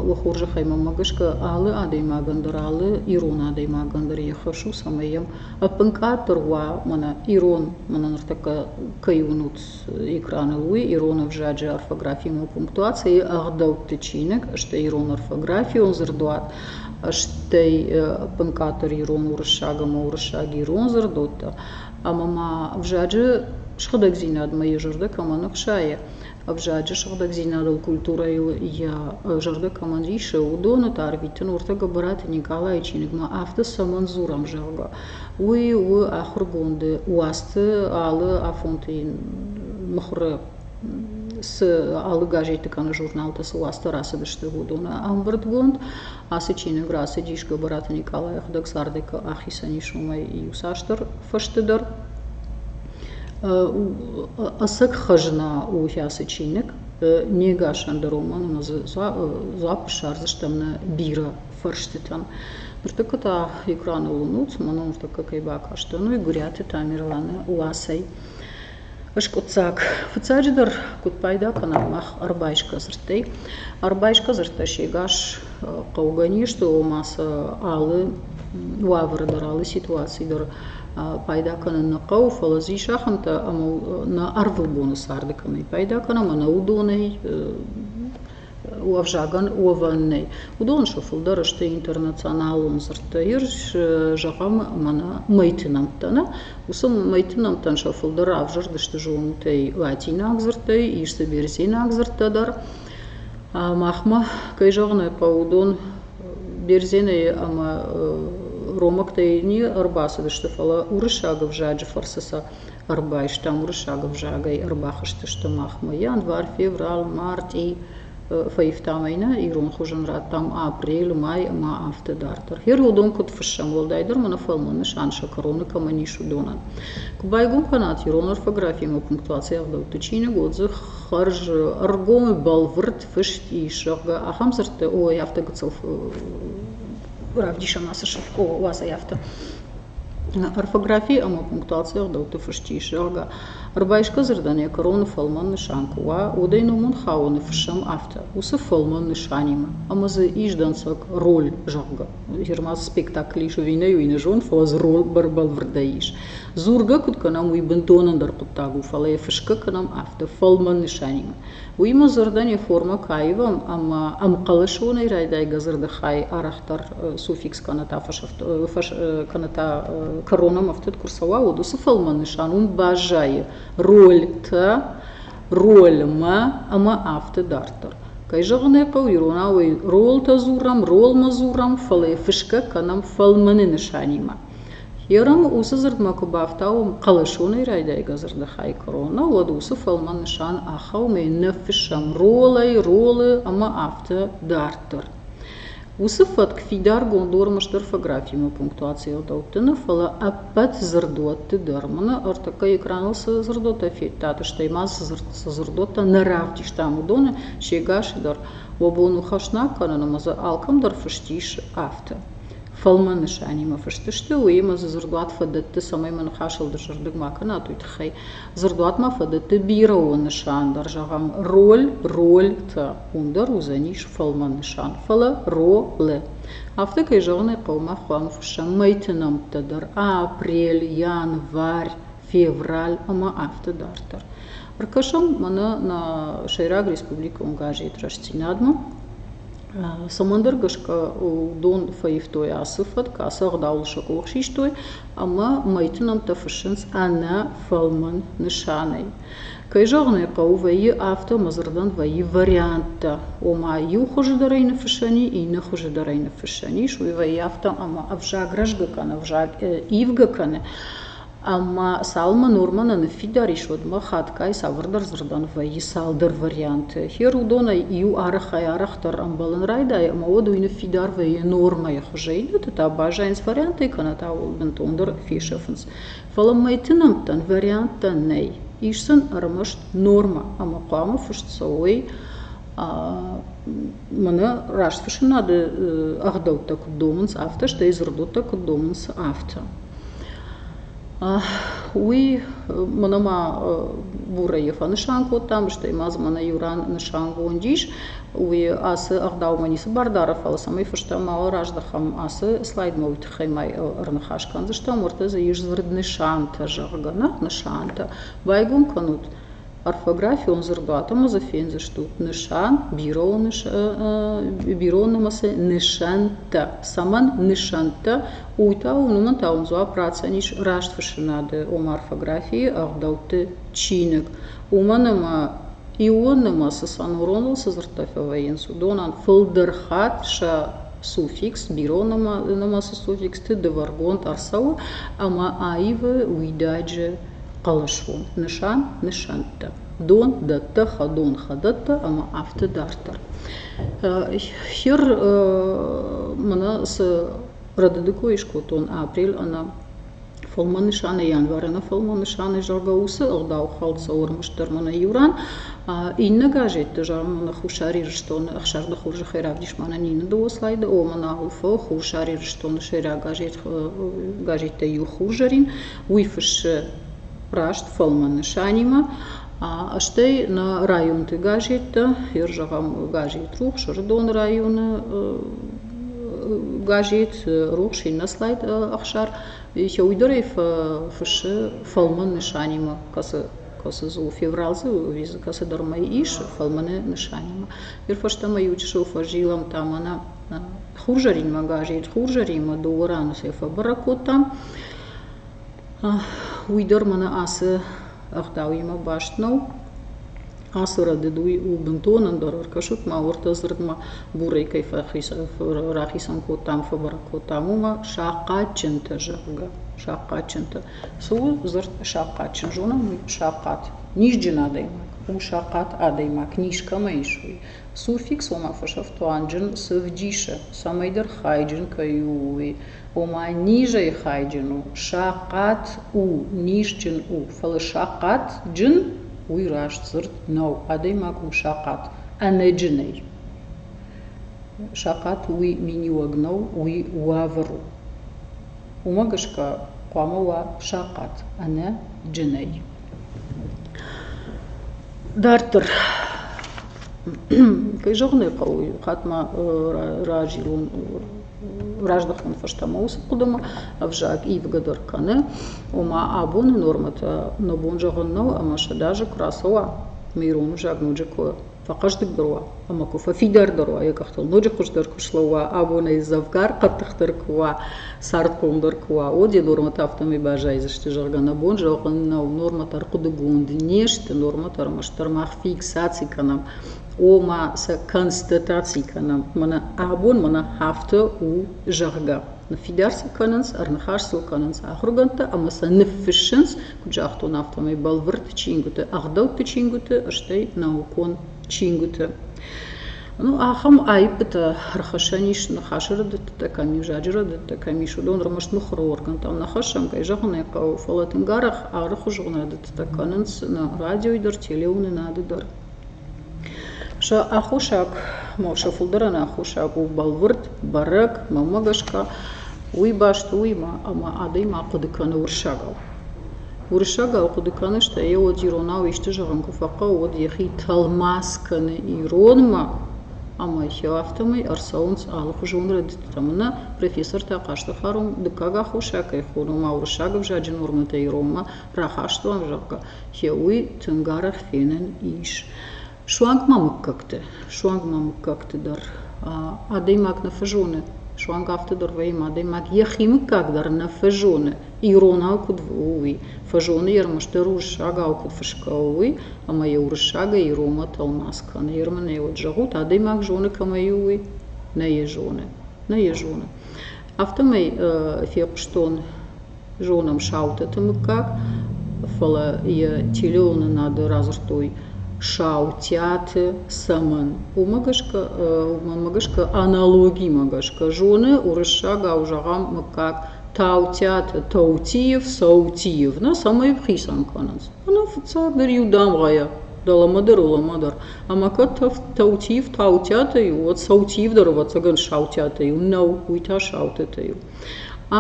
уӕ хорзӕхӕй мӕнмӕ гӕсгӕ алы адӕймагӕн дӕр, алы ирон адӕймагӕн дӕр йӕ хӕс у, цӕмӕй йӕм ӕппын къаддӕр уа, мӕнӕ ирон мӕнӕ ныртӕккӕ кӕй уынут экраны уый ирон ӕвзаджы орфографимӕ пунктуацийы ӕгъдӕутты чиныг стӕй ирон орфографион дзырдуат стӕй ӕппынкъаддӕр ирон уырыссаг ӕмӕ уырыссаг ирон дзырдуӕттӕ ӕмӕ ма ӕвзаджы сыгъдӕгдзинадмӕ йӕ зӕрдӕ кӕмӕн ӕхсайы ӕвзаджы сыгъдӕгдзинадыл культурӕйыл йӕ зӕрдӕ кӕмӕн исы уыдоны та арвитын уырты гӕбӕраты никъалайы чиныгмӕ афтӕ цӕмӕн дзурӕм зӕгъгӕ Уый у ахуыргонды уацты алы афонты мыхуыры цы алы газеты кӕнӕ журналтӕ цы уацтӕ рацыдысты, уыдоны ӕмбырдгонд. Ацы чиныг рацыдис Гӕбӕраты Никъалайы ӕгъдӕг цардӕй ахицӕн ис уымӕй иуцасдӕр фӕсты дӕр. Ӕцӕг хӕзна у ацы чиныг. Не гасӕн роман, ӕмӕ дзы дзуапп ссардзыстӕм нӕ бирӕ фӕрстытӕм. Ныртӕккӕ та экраныл нуц мӕ ном ныртӕккӕ кӕй бакастӕн, уый Гуыриаты Тамерланы «Ласӕй». Скъуыддзаг. Фыццаджыдӕр, куыд пайда кӕнӕм мах ӕрбайсгӕ дзырдтӕй? Ӕрбайсгӕ дзырдтӕ сегас хъӕугӕ не сты, ома сӕ алы уавӕры дӕр, алы ситуацийы дӕр пайда кӕнын нӕ хъӕуы, фӕлӕ дзы ис ахӕмтӕ, ӕмӕ нӕ ӕрвылбоны царды кӕмӕй пайда кӕнӕм, ӕнӕ уыдонӕй ӕвзагӕн уӕвӕн нӕй. Уыдон сӕ фылдӕр сты интернационалон дзырдтӕ. Ирыс зӕгъӕм мӕнӕ мӕйты нӕмттӕ нӕ. Уыцы мӕйты нӕмттӕн сӕ фылдӕр ӕвзӕрд сты зонутӕй латинаг дзырдтӕй, ис дзы берзенаг дзырдтӕ дӕр. Махмӕ, кӕй зӕгъын ӕй хъӕуы, уыдон берзенӕй ӕмӕ ромӕгтӕй не ӕрбацыдысты, фӕлӕ уырыссаг ӕвзаджы фӕрцы сӕ ӕрбайстам уырыссаг ӕвзагӕй, ӕрбахызтысты махмӕ. Январь, февраль, мартъи фӕивтам ӕй нӕ ирон хуызӕн радтам апрелы, май ӕмӕ афтӕ дарддӕр. Хӕрӕуыдон куыд фыссӕм, уӕлдайдӕр мӕ нӕ фӕлмӕн нысан сӕ кӕроны кӕмӕн ис, уыдонӕн. Куы байгом кӕнат ирон орфографимӕ пунктуацийы ӕгъдӕутты чиныг, уӕд дзы хӕрз ӕргом бӕлвырд фыст ис, зӕгъгӕ, ахӕм дзырдтӕ, ой, афтӕ гыццыл равдисӕм ацы сыф, о, уадзӕй афтӕ. орфографийы ӕмӕ пунктуацийы ӕгъдӕутты фыст ис зӕгъгӕ ӕрбайсгӕ дзырдӕн йӕ кӕроны фӕлмӕн нысан куы уа уӕдӕй номон хауӕны фыссӕм афтӕ уыцы фӕлмӕн нысанимӕ ӕмӕ дзы ис дӕнцӕг роль зӕгъгӕ жиырмацы спектакль ис ӕви нӕ уый нӕ зонын фӕлӕ дзы роль бӕлвырдӕй ис дзургӕ куыд кӕнӕм уый бынтон ӕндӕр хъуыддаг у фӕлӕ йӕ фысгӕ кӕнӕм афтӕ фӕлмӕн нысанимӕ уый мӕ зӕрдӕйы формӕ кӕй ивӕм ӕмӕ ӕмхъӕлӕсонӕй райдайгӕ дзырды хай арӕхдӕр суффикс кӕнӕ та кӕнӕ та кӕронӕм ӕфтыд куы рцӕуа уӕд уыцы фӕлмӕн нысан уым баззайы рольтӕ рольмӕ ӕмӕ афтӕ дарддӕр кӕй зӕгъын ӕй хъӕуы иронау ӕй ролтӕ дзурӕм ролмӕ дзурӕм фӕлӕ йӕ фысгӕ кӕнӕм фӕлмӕны нысанимӕ Йорамы уыцы дзырдмӕ куы бафтауӕм хъӕлӕсонӕй райдайгӕ дзырды хай куырона, уӕд уыцы фӕлмӕн нысан ахауымӕй ныффыссӕм ролӕй, ролы ӕмӕ афтӕ дарддӕр. Уыцы фӕтк фидаргонд ормӕ стыр фографимӕ пунктуацийыл дӕттыны, фӕлӕ ӕппӕт дзырдуӕтты дӕр. Мӕнӕ ӕртыккӕ экраныл цы дзырдуӕттӕ федтат, стӕй ма цы дзырд цы дзырдуӕттӕ нӕ равдистам, уыдоны сегасы дӕр уӕ бон у хӕснаг кӕнын ӕмӕ дзы алкӕмдӕр фыст ис афтӕ. фӕлмӕн нысанимӕ фыст сты, уыимӕ дзы дзырдуат фӕдӕтты, цӕмӕй мӕ ныхасыл дысырдыг ма кӕнат, уый тыххӕй. Дзырдуатмӕ фӕдӕтты бирӕон нысан дӕр, зӕгъӕм, роль, роль-тӕ, уым дӕр уыдзӕнис фӕлмӕн нысан, фӕлӕ ролы. Афтӕ, кӕй зӕгъын ӕй хъӕуы, мах хъуамӕ фыссӕм мӕйты нӕмттӕ дӕр, апрель, январь, февраль ӕмӕ афтӕ дарддӕр. Ӕркӕсӕм мӕнӕ нӕ сӕйраг республикон газет Рӕстдзинад-мӕ, Цӕмӕндӕр гӕсгӕ дон фӕивтой ацы фӕтк, ацы ӕгъдауыл сӕ къух систой ӕмӕ мӕйты нӕмттӕ фыссынц ӕнӕ фӕлмӕн нысанӕй. Кӕй зӕгъын ӕй хъӕуы, вӕййы афтӕ ӕмӕ дзырдӕн вӕййы варианттӕ, ома иу хуызы дӕр ӕй ныффыссӕн и, иннӕ хуызы дӕр ӕй ныффыссӕн ис, уый вӕййы афтӕ ӕмӕ ӕвзаг рӕзгӕ кӕны, ӕвзаг ивгӕ кӕны. Ӕмӕ цалынмӕ Норманы ныффидар ис, уӕдмӕ хатгай цавӕрдӕр дзырдӕн вӕййы цалдӕр варианты. Хер уыдонӕй иу арӕхӕй-арӕхдӕр ӕмбӕлын райдайы, ӕмӕ уӕд уый ныффидар вӕййы нормӕйы хуызӕй, иннӕты та баззайынц варианттӕй кӕнӕ та уыл бынтондӕр фесӕфынц. Фӕлӕ мӕйты нӕмттӕн варианттӕ нӕй. Ис сын ӕрмӕст нормӕ, ӕмӕ хъуамӕ фыст цӕуой Мӕнӕ раст фысынады ӕгъдӕуттӕ куыд домынц, афтӕ, стӕй дзырдодтӕ куыд домынц, афтӕ. Уый мӕнӕ ма Бурайы фӕнысан кодтам, стӕй ма дзы мӕнӕ иу ран нысангонд ис, уый ацы ӕгъдаумӕ ницы бардары, фӕлӕ цӕмӕй фыстӕ мал раздӕхӕм, ацы слайдмӕ уый тыххӕй ма ӕрныхас кӕндзыстӕм, уырдӕм ис дзырд нысантӕ, зӕгъгӕ, нӕ нысантӕ. Байгом кӕнут орфографион дзырдуаты ма дзы фендзыстут нысан бирон нымӕцы нысӕнттӕ цӕмӕн нысӕнттӕ уый та уымӕн та уын дзуапп ратдзӕн ис раст фыссынады ома орфографийы ӕгъдӕутты чиныг уымӕн ӕмӕ ион нымӕцы сонороныл цы дзырдтӕ фӕвӕййынц уыдонӕн фылдӕр хатт сӕ суффикс бирон нымӕцы суффиксты дывӕргонд ӕрцӕуы ӕмӕ аивы уидаджы хъӕлӕсфонд нысан, нысӕнттӕ, дон, дӕттӕ, хӕдон, хӕдӕттӕ ӕмӕ афтӕ дарддӕр. Хир мӕнӕ цы рӕдыды кой скодтон апрель ӕнӕ фӕлмӕн нысанӕй январ ӕнӕ фӕлмӕн нысанӕй зӕгъгӕ уыцы ӕгъдау хӕлд цӕуы ӕрмӕст дӕр мӕнӕ иу ран иннӕ газетты зӕгъӕм мӕнӕ Хуссар Ирыстоны ӕхсӕрды хорзы хӕйрӕгдис мӕнӕн Нина Дослайды омӕн АУФ Хуссар Ирыстоны сӕйраг газет газеттӕй иу хурзӕрин уый фыссы раст фӕлмӕн нысанимӕ, стӕй нӕ районты газеттӕ, хер зӕгъӕм, газет «Рухс», Сырдон районы газет «Рухс», иннӕ слайд Ӕхсар, йӕ уый дӕр ӕй фыссы фӕлмӕн нысанимӕ, кӕцы кӕцы дзы у феврал дзы визы кӕцыдӕрмӕ ис фӕлмӕны нысанимӕ. Ныр фӕстӕмӕ иучысыл фӕзилӕм та мӕнӕ Хурзӕринмӕ газет Хурзӕрин-мӕ дыууӕ раны сӕ фӕбӕрӕг кодтам. Уый дӕр мӕнӕ ацы ӕгъдауимӕ баст нӕу. Ацы рӕдыд уый у бынтон ӕндӕр ӕркӕсут ма уырдты дзырдмӕ бурӕй кӕй рахицӕн кодтам, фӕбӕрӕг кодтам, уымӕ сахъатджынтӕ, зӕгъгӕ, сахъатджынтӕ. Цы у дзырд сахъатджын? Зонӕм уый сахъат. Низджын адӕймаг, у сахъат адӕймаг, низ кӕмӕ ис, уый. Суффикс, ома фӕсӕфтуанджын, цы вдисы, цӕмӕйдӕр хайджын кӕй у, уый. ома низӕй хайджын у, сахъат у, низджын у, фӕлӕ сахъатджын уый раст дзырд нӕу. Адӕймаг у сахъат, ӕнӕджынӕй. Сахъат уый миниуӕг нӕу, уый уавӕр у. Уымӕ гӕсгӕ хъуамӕ уа сахъат, ӕнӕ джынӕй. Дарддӕр кӕй зӕгъын ӕй хъӕуы, иу хатт ма разилон раздӕхтон фӕстӕмӕ уыцы хъуыдымӕ, ӕвзаг ивгӕдӕр кӕны, ома абоны нормӕтӕ нӕ бон зӕгъын нӕу ӕмӕ сӕдӕ азы куы рацӕуа, ӕмӕ ирон ӕвзаг ноджы куы фӕхъӕздыгдӕр уа ӕмӕ куы фӕфидардӕр уа йӕ къӕхтыл, ноджы хуыздӕр куы слӕууа, абонӕй дзӕвгар къӕддӕхдӕр куы уа, цардхъомдӕр куы уа, уӕд йӕ нормӕтӕ афтӕмӕй баззайдзысты, зӕгъгӕ, нӕ бон зӕгъын нӕу, нормӕтӕ ӕрхъуыдыгонд не сты, нормӕтӕ ӕрмӕстдӕр мах фиксаци кӕнӕм ома сӕ констатаци кӕнӕм мӕнӕ абон мӕнӕ афтӕ у зӕгъгӕ ныффидар сыл кӕнынц ӕрныхас сыл кӕнынц ахуыргӕндтӕ ӕмӕ сӕ ныффыссынц куыд загътон афтӕмӕй бӕлвырд чингуыты ӕгъдӕутты чингуыты стӕй наукон чингуыты ну ахӕм аиппытӕ ӕрхӕссӕн ис ныхасы рӕдыдтытӕ кӕм ис взаджы рӕдыдтӕ кӕм ис уыдон ӕрмӕст мыхуыры оргӕнтӕм нӕ хӕссӕм кӕй зӕгъын ӕй хъӕуы фӕлӕ тынг арӕх алыхуызон рӕдыдтытӕ кӕнынц нӕ радиойы дӕр телеуынынады дӕр Сӕ аххосаг, сӕ фылдӕрӕн аххосаг у бӕлвырд, бӕрӕг, мӕнмӕ гӕсгӕ уый баст у уимӕ ӕмӕ адӕймаг хъуыды кӕны уырыссагау. Уырыссагау хъуыды кӕны, стӕй йӕ уӕд иронау исты зӕгъын куы фӕхъӕуы, уӕд йӕхи тӕлмац кӕны иронмӕ ӕмӕ йӕ афтӕмӕй ӕрцӕуынц алыхуызон рӕдыдтӕ. Мӕнӕ профессортӕ хъазты фарон дыккаг аххосаг кӕй хоны, ома уырыссаг ӕвзаджы нормӕтӕ иронмӕ рахастон, зӕгъгӕ, хеуый тынг арӕх фенӕн ис. Суанг ма мыггӕгты, суанг ма мыггӕгты дӕр. Адӕймаг нӕ фӕзоны, суанг афтӕ дӕр вӕййы, адӕймаг йӕхи мыггаг дӕр нӕ фӕзоны, иронау куыд у, уый. Фӕзоны йӕ ӕрмӕстдӕр уырыссагау куыд фысгӕ у, уый, ӕмӕ йӕ уырыссагӕй иронмӕ тӕлмац кӕны. Ермынӕй уӕд зӕгъут, адӕймаг зоны кӕмӕй у, уый? Нӕ йӕ зоны. Нӕ йӕ зоны. Афтӕмӕй фехъуыстон Зонӕм Саутыты мыггаг, фӕлӕ йӕ телеоны нады радзырдтой Саутӕты цӕмӕн. Уымӕ гӕсгӕ, уымӕ гӕсгӕ аналогимӕ гӕсгӕ зоны уырыссагау зӕгъӕм мыггаг Таутӕты Таутиев, Саутиев, нӕ цӕмӕй хицӕн кӕнынц. Ӕнӕ фыццагдӕр иу дамгъӕйӕ, дӕлӕмӕ дӕр, улӕмӕ дӕр. Ӕмӕ кӕд Таутиев Таутӕтӕ у, уӕд Саутиев дӕр, ӕвӕццӕгӕн, Саутӕтӕ у. Нӕу, уый та Саутӕтӕ у.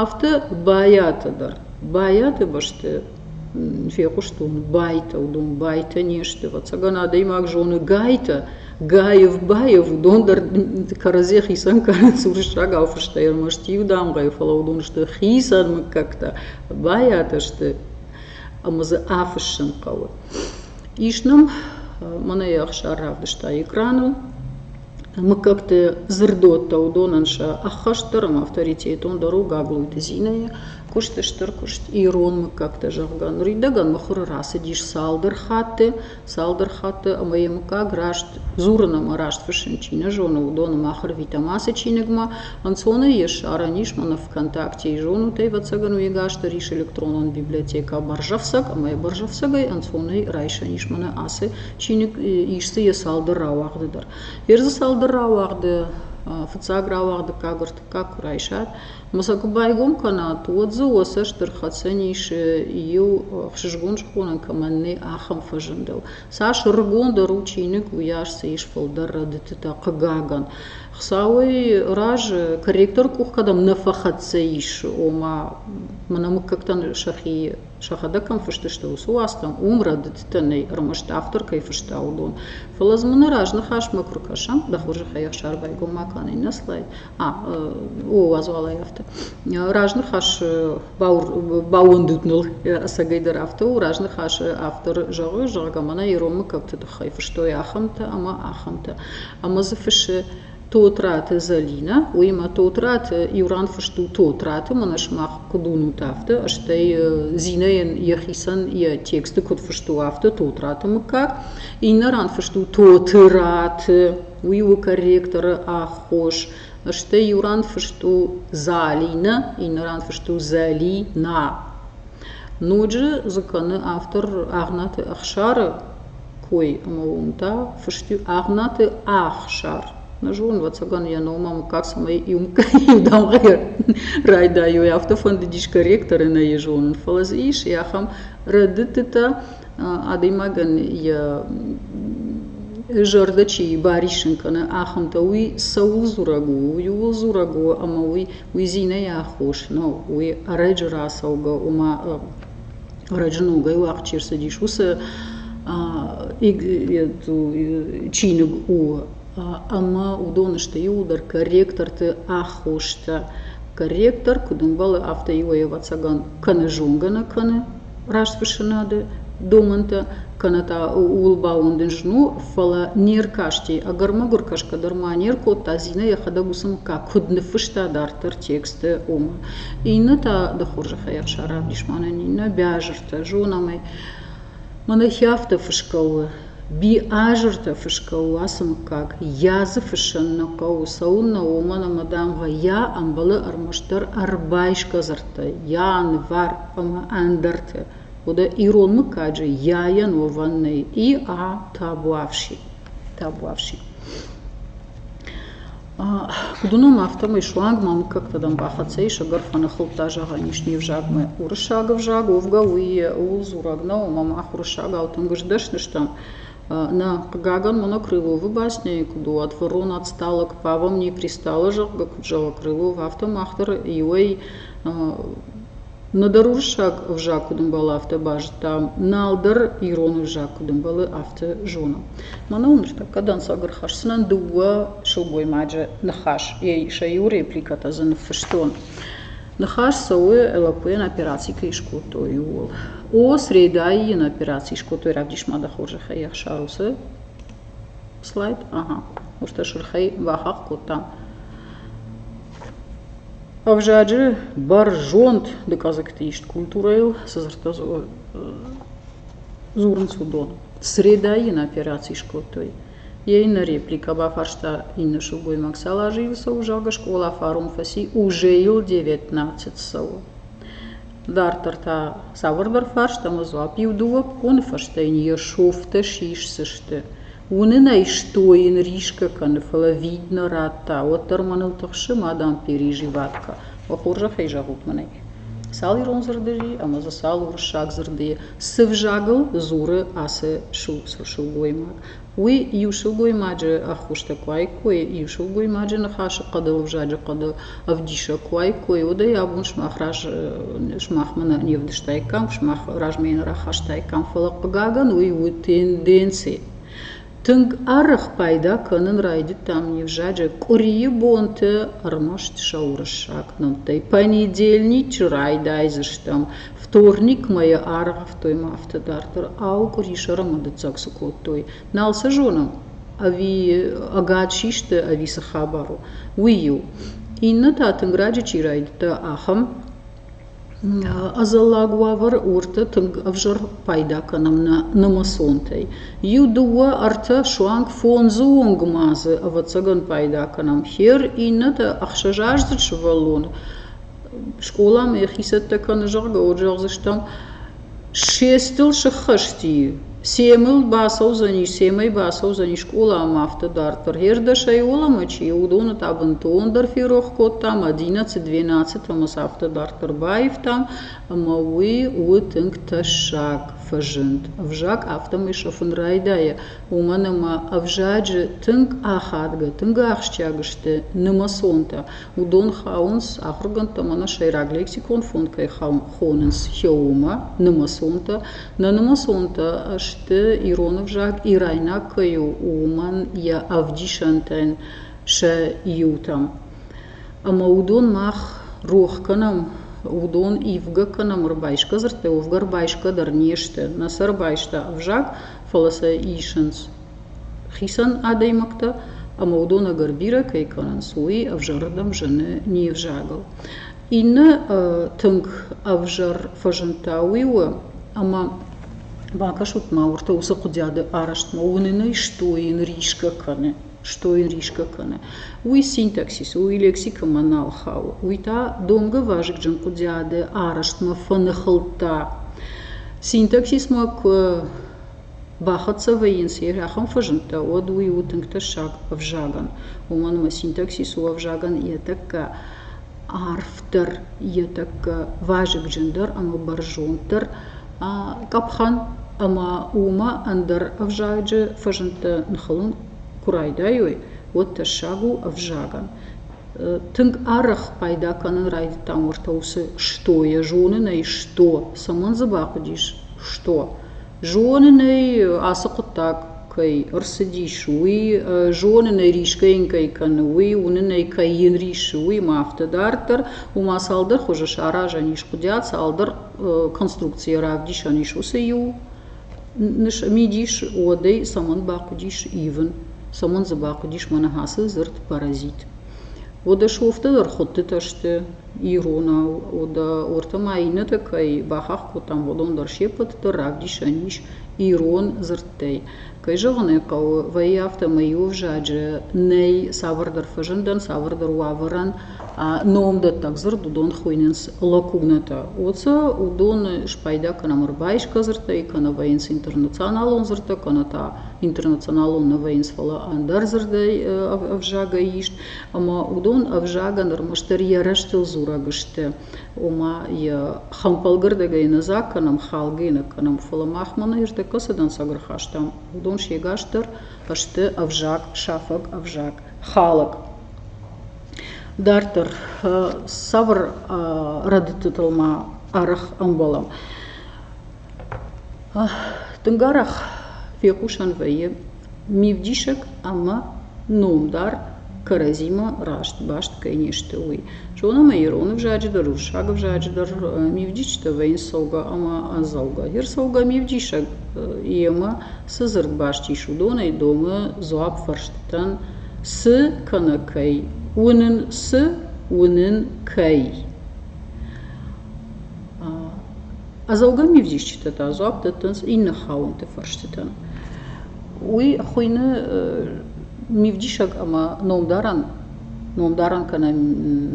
Афтӕ Байаты дӕр. Байаты бӕсты фехъуыстон Байтӕ, уыдон Байтӕ не сты. Ӕвӕццӕгӕн адӕймаг зоны Гайтӕ, Гаев, Баев, уыдон дӕр кӕрӕдзи хицӕн кӕнынц уырыссагау фыстӕй, ӕрмӕст иу дамгъӕйы, фӕлӕ уыдон сты хицӕн мыггӕгтӕ. Байатӕ сты ӕмӕ дзы афыссын хъӕуы. Ис нӕм, мӕнӕ Ӕхсар равдыста экраныл, Мыггӕгты дзырдодтӕ уыдонӕн сӕ ӕххӕстдӕр ӕмӕ авторитетон дӕр у Гаглойты Зинӕйы куыст, стыр куыст ирон мыггӕгтӕ, зӕгъгӕ. Ныридӕгӕн мыхуыры рацыдис цалдӕр хатты, цалдӕр хатты, ӕмӕ йӕ мыггаг раст дзурын ӕмӕ раст фыссын чи нӕ зоны, уыдоны мах ӕрвитӕм ацы чиныгмӕ. Ӕнцонӕй йе ссарӕн ис мӕнӕ ВКонтакте. Зонут ӕй, ӕвӕццӕгӕн, уегӕсты рис электронон библиотекӕ Бӕрзӕфцӕг, ӕмӕ йӕ Бӕрзӕфцӕгӕй ӕнцонӕй райсӕн ис мӕнӕ ацы чиныг ис дзы йӕ цалдӕр рауагъды дӕр. Йе рдзы цалдӕр рауагъды фыццаг рауагъд дыккаг, ӕртыккаг куы райсат, ӕмӕ сӕ куы байгом кӕнат, уӕд дзы уӕ сӕ стыр хӕцӕн ис иу хсызгон зонын кӕмӕн нӕй, ахӕм фӕзындыл. Цас ӕрыгондӕр у чиныг, уыйас дзы ис фылдӕр рӕдыдтытӕ, хъыгагӕн. Хуыцауӕй разы корректоры къух кӕдӕм нӕ фӕхӕццӕ ис, ома мӕнӕ мыггӕгтӕн сӕхи сӕхӕдӕг кӕм фыстысты, уыцы уацтӕм уым рӕдыдтӕ нӕй, ӕрмӕст автор кӕй фыста, уыдон. фӕлӕ дзы мын нӕ разныхасмӕ куы ркӕсӕм, дӕ хорзӕхӕй ӕхсар байгом ма кӕн, иннӕ слайд. А, о, уадз уалӕй афтӕ. Разныхас баууӕндут ныл ӕцӕгӕйдӕр афтӕ у, разныхасы автор зӕгъы, зӕгъгӕ, мӕнӕ иронмӕ кӕмты тыххӕй фыстой ахӕмтӕ ӕмӕ ахӕмтӕ. Ӕмӕ дзы фыссы Тотраты Зӕлинӕ, уыимӕ Тотраты иу-ран фыст у Тотраты, мӕнӕ сымах куыд уынут, афтӕ, стӕй Зинӕйӕн йӕхицӕн йӕ тексты куыд фыст у, афтӕ Тотраты мыггаг. Иннӕ ран фыст у Тотраты, уый у корректоры аххос, стӕй иу ран фыст у Залинӕ, иннӕ ран фыст у Зӕлинӕ. Ноджы дзы кӕны автор Агънаты Ӕхсары кой ӕма уон, да, фӕстиуг Агънаты Ӕхсар. Нӕ зонын, ӕвӕццӕгӕн, йӕ номӕ мыггаг, цӕмӕй иу дамгъӕ райдайой, афтӕ фӕндыдис корректор ӕнӕйы зонын. Фӕлӕ дзы ис ахӕм рӕдыдтытӕ, адӕймагӕн йӕ зӕрдӕ чи бариссын кӕны, ахӕмтӕ. Уый цӕуыл дзурӕг у? Уый ууыл дзурӕг у, ӕмӕ уый уый зинӕйы аххос нӕу, уый ӕрӕджы рацӕугӕ, ома Ӕрӕджы ногӕй уагъд чи рцыдис, уыцы чиныг у. Ӕмӕ уыдон сты иууылдӕр корректорты аххостӕ. Корректор куыд ӕмбӕлы, афтӕ иуӕй ӕвӕццӕгӕн кӕнӕ зонгӕ нӕ кӕны растфыссынады домӕнтӕ, кӕнӕ та ууыл бауӕндын зын у, фӕлӕ не ркасти, ӕгӕр-мӕгуыр кӕсгӕ дӕр ма не ркодта, Зинӕ йӕхӕдӕг уыцы мыггаг куыд ныффыста дарддӕр текстты, ома. Иннӕ та ды хорзӕхӕй ӕхсар равдис мӕнӕн, иннӕ Биазыртӕ. Зонӕм ӕй. Мӕнӕ хи афтӕ фысгӕ у. Биазыртӕ фысгӕ у ацы мыггаг. Йӕ дзы фыссӕн нӕ хъӕуы. Цӕуылнӕ, уымӕн ӕмӕ, дам, гъӕй, йӕ ӕмбӕлы ӕрмӕстдӕр ӕрбайсгӕ дзырдтӕй, йӕ нывӕр ӕмӕ ӕндӕртӕ. Уӕдӕ ирон мыггаджы йӕйӕн уӕвӕн нӕй. И-а, табуафси. табуафси. Куыд уынон, афтӕмӕй суанг ма мыггӕгтӕ дӕм бахӕццӕ ис, ӕгӕр фӕныхылдта, зӕгъӕн ис, не взагмӕ. Уырыссаг ӕвзаг уӕвгӕ уый ууыл дзурӕг нӕу, ӕмӕ мах уырыссагау тынг сдӕсны стӕм. Нӕ, хъыгагӕн, монокрыловы басняйы куыд у, ӕдфӕрон отсталок, павомней пристала, зӕгъгӕ, куыд зӕгъы крылов, афтӕ мах дӕр иуӕй нӕдӕр уырыссаг ӕвзаг куыд ӕмбӕлы афтӕ базыдта налдӕр ирон ӕвзаг куыд ӕмбӕлы афтӕ зоны мӕнӕ уым ныртӕккӕ дӕнцӕг ӕрхӕсдзынӕн дыууӕ сылгоймаджы ныхас сӕ иу репликӕтӕ дзы ныффыстон ныхас цӕуы лӕппуйӕн операци кӕй скодтой ууыл о срейдайы йын операци скодтой равдисмады хорзӕхӕй ӕхсар уыцы слайд ага уыртӕ сырхӕй бахахх кодта Ӕвзаджы бӕрзонд дыкъӕдзӕгты ист культурӕйыл цы дзырдтӕ дзурынц, уыдон средӕйы йын операци скодтой. Йӕ иннӕ репликӕ бафарста иннӕ сылгоймаг, цал азы йыл цӕуы, зӕгъгӕ, скъола фарон фӕци, уже йыл девятнадцать цӕуы. Дарддӕр та цавӕрдӕр фарст ӕмӕ дзуапп иу-дыууӕ боны фӕстӕ йын йе рсовтӕ сисдзысты. Уынынӕй стойын рискӕ кӕны, фӕлӕ вид нӕ радта, уӕддӕр мӕныл тыхсы мадам Пери Живатко. Уӕ хорзӕхӕй зӕгъут мын ӕй. Цал ирон дзырды и ӕмӕ дзы цал уырыссаг дзырды и. Цы взагыл дзуры ацы сылгоймаг? Уый иу сылгоймаджы ӕххуыстӕ куы аиккой, иу сылгоймаджы ныхасы хъӕдыл, ӕвзаджы хъӕдыл, ӕвдисӕг куы уаиккой, уӕд ӕй абон сымах раз сымахмӕ нӕ не вдыстаиккам, сымах размӕ нӕ рахастаиккам. Фӕлӕ хъыгагӕн, уый у тенденци. Тынг арӕх пайда кӕнын райдыдтам не взаджы къуырийы бонты ӕрмӕст сӕ уырыссаг нӕмттӕй. Понедельничы райдайдзыстӕм, вторник мӕйы аргъӕвтой ма афтӕ дарддӕр. Ау, къуыри сӕр ӕмӕ дыццаг цы кодтой? Нал сӕ зонын, ӕви ӕгад систы, ӕви цы хабар у, уый-иу. Иннӕ та тынг раджы чи райдыдта, ахӕм ӕдзӕллаг уавӕр уырты тынг ӕвзӕр пайда кӕнӕм нӕ нымӕцонтӕй. Иу, дыууӕ, ӕртӕ, суанг фондзы онг ма дзы, ӕвӕццӕгӕн, пайда кӕнӕм. Хер иннӕтӕ ӕхсӕзаздзыд сывӕллоны скъоламӕ йӕхи цӕттӕ кӕны, зӕгъгӕ, уӕд зӕгъдзыстӕм, Ссестыл сыххӕсти, семыл бацӕудзӕни, семӕй бацӕудзӕни скъоламӕ афтӕ дарддӕр. Хӕрдӕсӕй уӕлӕмӕ чи у, уыдоны та бынтондӕр ферох кодтам, одиннадцать, двенадцать ӕмӕ сӕ афтӕ дарддӕр баивтам, ӕмӕ уый у тынг тӕссаг фӕзынд. Ӕвзаг афтӕмӕй сафын райдайы, уымӕн ӕмӕ ӕвзаджы тынг ахадгӕ, тынг ахсджиаг сты нымӕцонтӕ. Уыдон хауынц, ахуыргӕндтӕм ӕнӕ сӕйраг лексикон фонд кӕй хауын хонынц хеомӕ, нымӕцонтӕ. Нӕ нымӕцонтӕ сты ирон ӕвзаг ирайнаг кӕй у, уымӕн йӕ ӕвдисӕнтӕн сӕ иутӕм. Ӕмӕ уыдон мах рох кӕнӕм, уыдон ивгӕ кӕнӕм ӕрбайсгӕ дзырдтӕй, уӕвгӕ ӕрбайсгӕ дӕр не сты. Нӕ сӕ ӕрбайста ӕвзаг, фӕлӕ сӕ исынц хицӕн адӕймӕгтӕ, ӕмӕ уыдон ӕгӕр бирӕ кӕй кӕнынц, уый ӕвзӕрырдӕм зыны не взагыл. Иннӕ тынг ӕвзӕр фӕзындтӕ уый у, ӕмӕ бакӕсут-ма уырдӕм уыцы куыдиады арӕзтмӕ. Уынын ӕй стойын рисгӕ кӕны, стойын рисгӕ кӕны. Уый синтаксис у, уый лексикӕмӕ нал хауы. Уый та домгӕ вазыгджын куыдиады арӕзтмӕ фӕныхылдта. Синтаксис ма куы Бахӕццӕ вӕййынц, йӕ рӕхым фӕзындтӕ, уӕд уый у тынг тӕссаг ӕвзагӕн, уымӕн ӕмӕ синтаксис у ӕвзагӕн йӕ тӕккӕ арфдӕр, йӕ тӕккӕ вазыгджындӕр ӕмӕ бӕрзонддӕр къӕпхӕн, ӕмӕ уымӕ ӕндӕр ӕвзаджы фӕзындтӕ ныхылын куы райдайой, уӕд тӕссаг у ӕвзагӕн. Тынг арӕх пайда кӕнын райдыдтам уӕртӕ уыцы «что». Йӕ зонын ӕй «что». Цӕмӕн дзы бахъуыдис «что»? Зонын ӕй, ацы хъуыддаг кӕй ӕрцыдис, уый, зонын ӕй, рисгӕ йын кӕй кӕны, уый, уынын ӕй, кӕй йын рисы, уый ӕмӕ афтӕ дарддӕр, уымӕ цалдӕр хуызы саразӕн ис куыдиат, цалдӕр конструкцийы равдисӕн ис. Уыцы иу мидис уӕдӕй цӕмӕн бахъуыдис ивын, цӕмӕн дзы бахъуыдис мӕнӕ ацы дзырд паразит. Уӕдӕ шофтӕ дӕр хуыдтытӕ сты. иронау уӕдӕ уырты ма иннӕтӕ кӕй бахахх кодтам уыдон дӕр се ппӕты дӕр равдисӕн ис ирон дзырдтӕй кӕй зӕгъын ӕй хъӕуы вӕййы афтӕмӕй иу ӕвзаджы нӕй цавӕрдӕр фӕзындӕн цавӕрдӕр уавӕрӕн номдӕттӕг дзырд уыдон хуыйнынц лакунатӕ уыцы уыдоны спайда кӕнӕм ӕрбайсгӕ дзырдтӕй кӕнӕ вӕййынц интернационалон дзырдтӕ кӕнӕ та интернационалон нӕ вӕййынц фӕлӕ ӕндӕр дзырдӕй ӕвзагӕй ист ӕмӕ уыдон ӕвзагӕн ӕрмӕстдӕр йӕ рӕзтыл дзурӕг сты, ома йӕ хӕмпӕлгӕрдӕгӕй нӕ дзаг кӕнӕм, халгӕ нӕ кӕнӕм, фӕлӕ мах мӕнӕ ӕрдӕггӕ цы дӕнцӕг ӕрхастам, уыдон сегасдӕр сты ӕвзаг, сафӕг ӕвзаг, халык. Дарддӕр цавӕр рӕдыдтытыл ма арӕх ӕмбӕлӕм? Тынг арӕх фехъусӕн вӕййы мивдисӕг ӕмӕ номдар кӕрӕдзимӕ раст баст кӕй не сты, уый. Зонӕм ӕй ирон ӕвзаджы дӕр, уырыссаг ӕвзаджы дӕр, мивдистытӕ вӕййынц цӕугӕ ӕмӕ ӕдзӕугӕ. Ӕрдзӕугӕ мивдисӕг йемӕ цы дзырд баст ис, уыдонӕй домы дзуапп фӕрстытӕн, цы кӕнӕ кӕй, уынын цы, уынын кӕй. Ӕдзӕугӕ мивзисджытӕ та дзуапп дӕттынц иннӕ хауӕнты фӕрстытӕн. Уый хуыйны мивдисӕг ӕмӕ номдарӕн номдарӕн кӕнӕ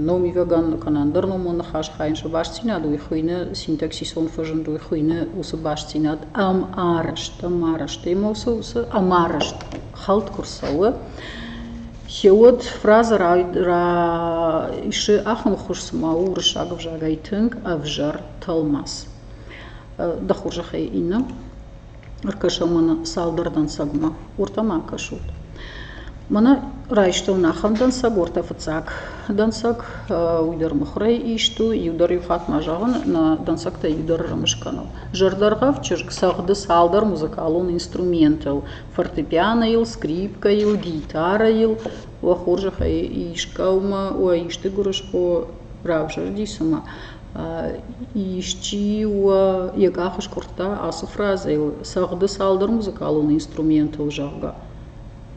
номивӕгӕн кӕнӕ ӕндӕр номон ныхас хайын сӕ бастдзинад, уый хуыйны синтаксисон фӕзынд, уый хуыйны уыцы бастдзинад ӕмарӕзт, ӕмарӕзт ӕмӕ уыцы ӕмарӕзт хӕлд куы рцӕуы, Хиуд фразӕ райсы ахуырхуыз, цыма у уырыссаг ӕвзагӕй тынг ӕвзӕр тӕлмац. Дӕ хорзӕхӕй Инна, ӕркӕсӕм мӕнӕ цалдӕр дӕнцӕгмӕ. Уырдӕм ӕркӕсут. Мӕнӕ райстон ахӕм дӕнцӕг, уӕртӕ фыццаг дӕнцӕг, уый дӕр мыхуырӕй ист у, иу дӕр иу хатт ма зӕгъын, нӕ дӕнцӕгтӕй иу дӕр ӕрымыс кӕнӕм. Зӕрдӕргъӕвд чызг цӕгъды цалдӕр музыкалон инструментыл. фортепианойыл, скрипкӕйыл, гитарӕйыл, уӕ хорзӕхӕй искӕумӕ, уӕ исты гуырысхо равзӕрди цымӕ исчи уӕ йӕ къах скъуырдта ацы фразӕйыл цӕгъды цалдӕр музыкалон инструментыл, зӕгъгӕ.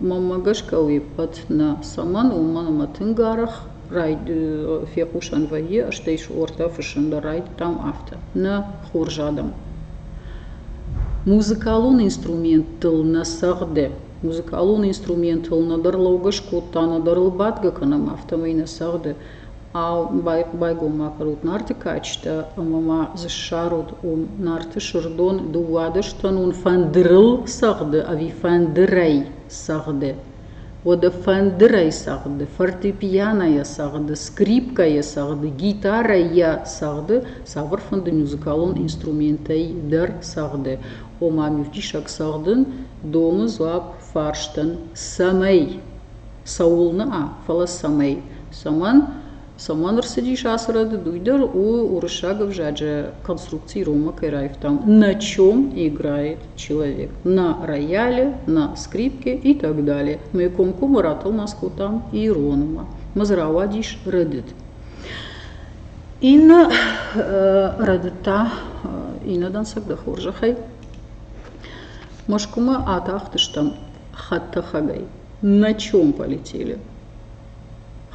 Мӕнмӕ гӕсгӕ уе ппӕт нӕ, цӕмӕн уымӕн ӕмӕ тынг арӕх Райд фехъусӕн вӕййы, стӕй суортӕ фыссын дӕр райдыдтам афтӕ, нӕ хорз адӕм. Музыкалон инструменттыл нӕ цӕгъды. Музыкалон инструментыл нӕдӕр лӕугӕ скодта, нӕдӕр ыл бадгӕ кӕнӕм, афтӕмӕй нӕ цӕгъды. Ау, байгом ма кӕнут нарты кадджытӕ ӕмӕ ма дзы ссарут уым нарты сырдон, дыууадӕстӕнон фӕндырыл цӕгъды ӕви фӕндырӕй цӕгъды? уӕдӕ фӕндырӕй цагъды фортепианойӕ цагъды скрипкӕйӕ цагъды гитарӕйӕ цагъды цавӕр фӕнды музыкалон инструментӕй дӕр цагъды ома мивдисӕг цагъдын домы дзуапп фарстӕн цӕмӕй цӕуылнӕ фӕлӕ цӕмӕй цӕмӕн Цӕмӕн ӕрцыдис ацы рӕдыд, уый дӕр у, уырыссаг ӕвзаджы конструкци иронмӕ кӕй раивтам. На чем играет человек? На рояле, на скрипке и так далее. Мы комкоммы ратылмац кодтам иронмӕ. Ма дзы рауадис рӕдыд. Иннӕ рӕдыдтӕ, иннӕ дӕнцӕг дӕ хорзӕхӕй, Мӕскуымӕ атахтыстӕм хӕдтӕхӕгӕй. На чем полетели?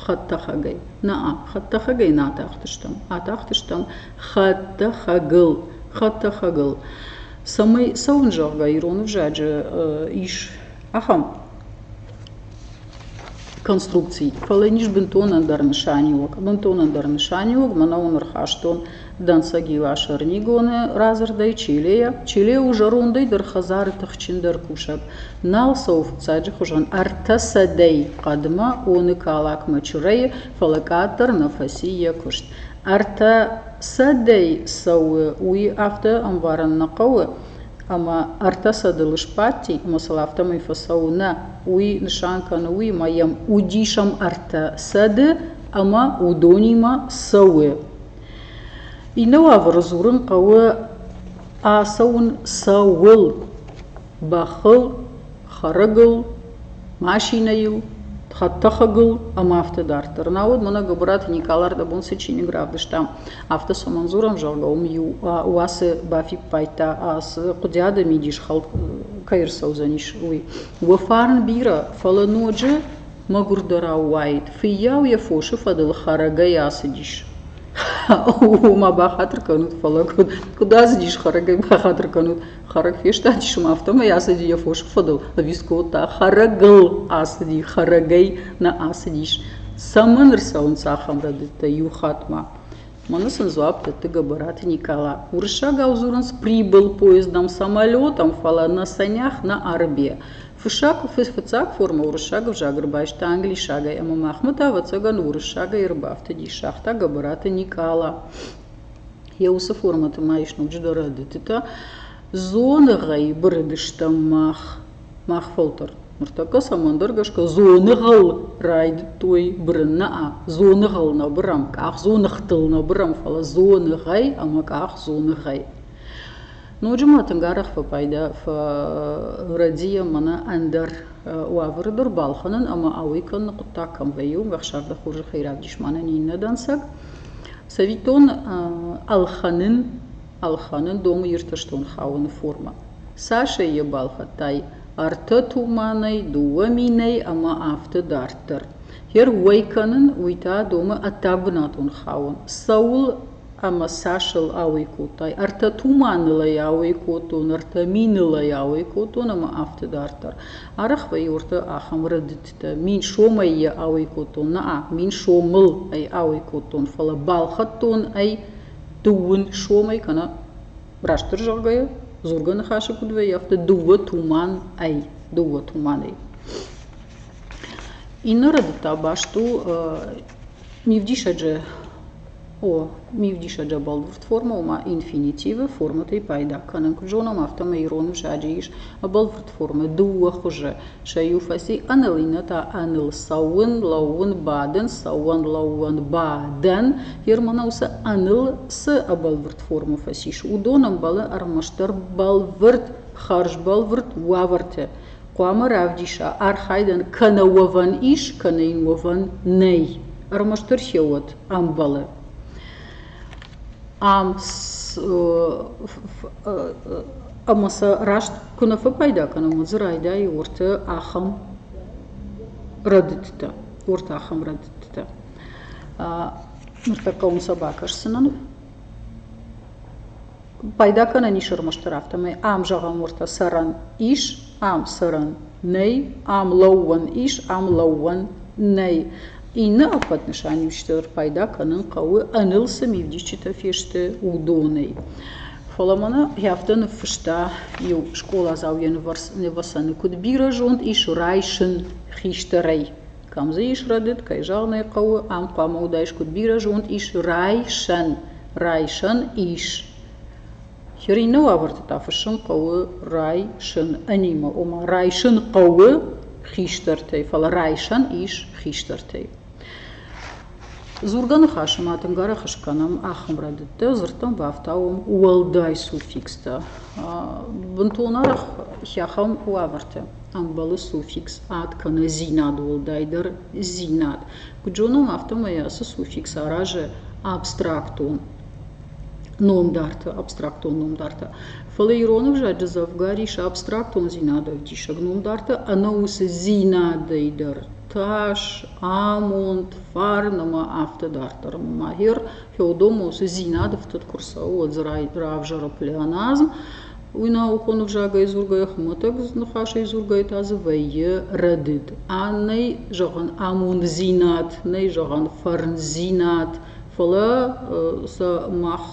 хӕдтӕхӕгӕй наа хӕдтӕхӕгӕй нӕ атахтыстӕм атахтыстӕм хӕдтӕхӕгыл хӕдтӕхӕгыл цӕмӕй цӕуын зӕгъгӕ ирон ӕвзаджы ис ахӕм конструкци фӕлӕ ӕниз бынтон ӕндӕр нысаниуӕг бынтон ӕндӕр нысаниуӕг мӕнӕ уым ӕрхастон Дӕнцӕги ласӕр нигоны радзырдӕй Чилейӕ. Чиле у зӕрондӕй дӕр хӕдзары тыхджындӕр кусӕг. Нал цӕуы фыццаджы хуызӕн ӕртӕ сӕдӕй хъӕдмӕ, оны калакмӕ чырӕйы, фӕлӕ къаддӕр нӕ фӕци йӕ куыст. Ӕртӕ сӕдӕй цӕуы, уый афтӕ ӕмбарын нӕ хъӕуы, ӕмӕ ӕртӕ сӕдыл сбадти, ӕмӕ сыл афтӕмӕй фӕцӕуы нӕ. Уый нысан кӕны уый, ӕмӕ йӕм удисӕм ӕртӕ сӕды, ӕмӕ уыдонимӕ цӕуы Иннӕ уавӕры дзурын хъӕуы ацӕуын цӕуыл: бӕхыл, хӕрӕгыл, машинӕйыл, хӕдтӕхӕгыл ӕмӕ афтӕ дарддӕр. Науӕд мӕнӕ Гуыбыраты Никъалар дӕ бон цы чиныг равдыста, афтӕ цӕмӕн дзурӕм, зӕгъгӕ, уым иу уацы бафиппайдта, ацы Хъуыдиады мидис хӕлд кӕй ӕрцӕудзӕнис, уый. Уӕ фарн бирӕ, фӕлӕ ноджы Мӕгуырдӕрау уаид, фыййау йӕ фосы фӕдыл хӕрӕгӕй ацыдис. Ома бахатыр кӕнут, фӕлӕ куыд, куыд ацыдис хӕрӕгӕй бахатыр кӕнут? Хӕрӕг фестадис ӕмӕ афтӕмӕй ацыди йӕ фосы фӕдыл, ӕви скодта? Хӕрӕгыл ацыди, хӕрӕгӕй нӕ ацыдис. Цӕмӕн ӕрцӕуынц ахӕм рӕдыдтӕ иу хатмӕ? Мӕнӕ сын дзуапп дӕтты Гӕбӕраты Никола. Уырыссагау дзурынц прибыл поездом самолетом, фӕлӕ нӕ санях, нӕ арыбе. Фыццаг формӕ уырыссаг ӕвзаг ӕрбайста англисагӕй ӕмӕ махмӕ та, ӕвӕццӕгӕн, уырыссагӕй ӕрбафтыдис, загъта Гӕбӕраты Никъала. Йӕ уыцы формӕты ма ис ноджыдӕр ӕрдӕтытӕ. Дзоныгъӕй бырыдыстӕм мах. Мах фӕлтӕр. Ныртӕккӕ цӕмӕндӕр гӕсгӕ дзоныгъыл райдыдтой бырын нӕ дзоныгъыл нӕ бырӕм, къах дзоныгътыл нӕ бырӕм, фӕлӕ дзоныгъӕй ӕмӕ къах дзоныгъӕй. Ноджы ма тынг арӕх фӕпайда фӕрӕдийӕ мӕнӕ ӕндӕр уавӕры дӕр балхӕнын ӕмӕ ауӕй кӕныны хъуыддаг кӕм вӕййы, уым ӕхсӕрдӕс хорзӕхӕй равдис мӕнӕн иннӕ дӕнцӕг. Цӕвиттон, ӕлхӕнын, ӕлхӕнын домы Иртӕстон хауыны формӕ. Цасӕй йӕ балхӕдтай? Ӕртӕ туманӕй, дыууӕ минӕй ӕмӕ афтӕ дарддӕр. Гер уӕй кӕнын, уый та домы ӕддӕбынатон хауын. Цӕуыл ӕма сӕсыл ауӕй кодтай. Ӕртӕ туманыл ӕй ауӕй кодтон, ӕртӕ миныл ӕй ауӕй кодтон ӕма афтӕ дарддӕр. Арӕх вӕййурдта ахӕм рӕдыдтитӕ. Мин сомӕй йӕ ауӕй кодтон, наа, мин сомыл ӕй ауӕй кодтон, фӕлӕ балхӕдтон ӕй дыууын сомӕй, кӕнӕ растдӕр зӕгъгӕйӕ, дзургӕ ныхасы куыд вӕййы, афтӕ дыууӕ туман ӕй, дыууӕ туман ӕй. Иннӕ рӕдыд та баст у Мивдисӕджы О, мивдисӕджы бӕлвырд форма у ма инфинитивы формӕтӕй пайда кӕнын. Куыд зонӕм, афтӕмӕй ирон ӕвзаджы ис бӕлвырд формӕ дыууӕ хуызы. Сӕ иу фӕци ӕныл, иннӕтӕ ӕныл цӕуын, лӕууын, бадын, цӕуӕн, лӕууӕн, бадӕн. Германӕ уыцы ӕныл цы бӕлвырд формӕ фӕцис, уыдон ӕмбӕлы ӕрмӕстдӕр бӕлвырд, хӕрзбӕлвырд уавӕрты. хъуамӕ равдиса, архайдӕн кӕнӕ уӕвӕн ис, кӕнӕ йын уӕвӕн нӕй. Ӕрмӕстдӕр се уӕд ӕмбӕлы. Ам ӕмӕ сӕ раст куы нӕ фӕпайда кӕнӕм, уӕд дзы райдайы уырты ахӕм рӕдыдтӕ, уырты ахӕм рӕдыдтӕ. Ныртӕккӕ уым сӕ бакӕсдзынӕн. Пайда кӕнӕн ис ӕрмӕстдӕр афтӕмӕй, ам зӕгъӕм уӕртӕ цӕрӕн ис, ам цӕрӕн нӕй, ам лӕууӕн ис, ам лӕууӕн нӕй. Иннӕ ӕппӕт нысаниуджытӕ пайда кӕнын хъӕуы ӕныл цы мивдисджытӕ фесты, уыдонӕй. Фӕлӕ мӕнӕ афтӕ ныффыста иу скъоладзау йӕ нывӕсӕны, куыд бирӕ зонд ис райсын хистӕрӕй. Кӕм дзы ис рӕдыд, кӕй зӕгъын ӕй хъӕуы, ам хъуамӕ уыдаис куыд бирӕ зонд, ис райсӕн, райсӕн ис. Хер иннӕ уавӕрты та фыссын хъӕуы райсын анимӕ, ома райсын хъӕуы хистӕртӕй, фӕлӕ райсӕн ис хистӕртӕй. Дзургӕ ныхасы ма тынг арӕх скӕнӕм ахӕм рӕдыдтӕ, дзырдтӕм бафтауӕм уӕлдай суффикстӕ. Бынтон арӕх хӕххон уавӕртӕ ӕмбӕлы суффикс ад кӕнӕ зинад уӕлдайдӕр зинад. Куыд зонӕм, афтӕмӕй ацы суффикс аразы абстрактон номдарты, абстрактон номдарты. Фӕлӕ ирон ӕвзаджы дзӕвгар ис абстрактондзинады ӕвдисӕг номдарты, ӕнӕ уыцы зинадӕй дӕр тас, амонд, фарн ӕмӕ афтӕ дарддӕр. Мамайер феодомосы-дзинады фтыд куы рцӕуы, уӕд дзы равзӕры плеоназм, уый наукон ӕвзагӕй дзургӕйӕ, хуымӕтӕг ныхасӕй дзургӕйӕ та дзы вӕййы рӕдыд. Нӕй зӕгъӕн амонддзинад, нӕй зӕгъӕн фӕрндзинад, фӕлӕ сӕ мах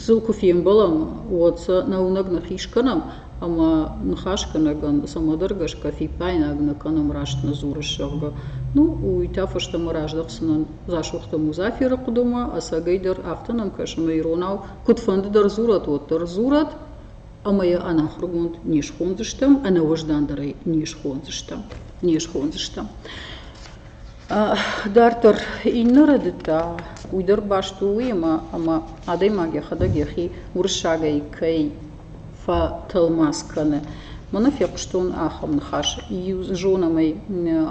Сыл куы фембӕлӕм, уӕд сӕ нӕуынӕг ныхис кӕнӕм ӕмӕ ныхасгӕнӕгӕн цӕмӕдӕр гӕсгӕ фиппаинаг нӕ кӕнӕм раст нӕ дзурыс, зӕгъгӕ. Ну, уый та фӕстӕмӕ раздӕхдзынӕн Дзасохты Музаферы хъуыдымӕ, ӕцӕгӕйдӕр афтӕ нӕм кӕсы ӕмӕ иронау куыдфӕнды дӕр дзурӕт, уӕддӕр дзурӕт ӕмӕ йӕ ӕнахуыргонд не схондзыстӕм, ӕнӕуӕздандӕрӕй не схондзыстӕм, не схондзыстӕм. Дарддӕр иннӕ рӕдыдтӕ уый дӕр баст у уыимӕ, ӕмӕ адӕймаг йӕхӕдӕг йӕхи уырыссагӕй кӕй фӕтӕлмац кӕны. Мӕнӕ фехъуыстон ахӕм ныхас. Иу зонӕм ӕй,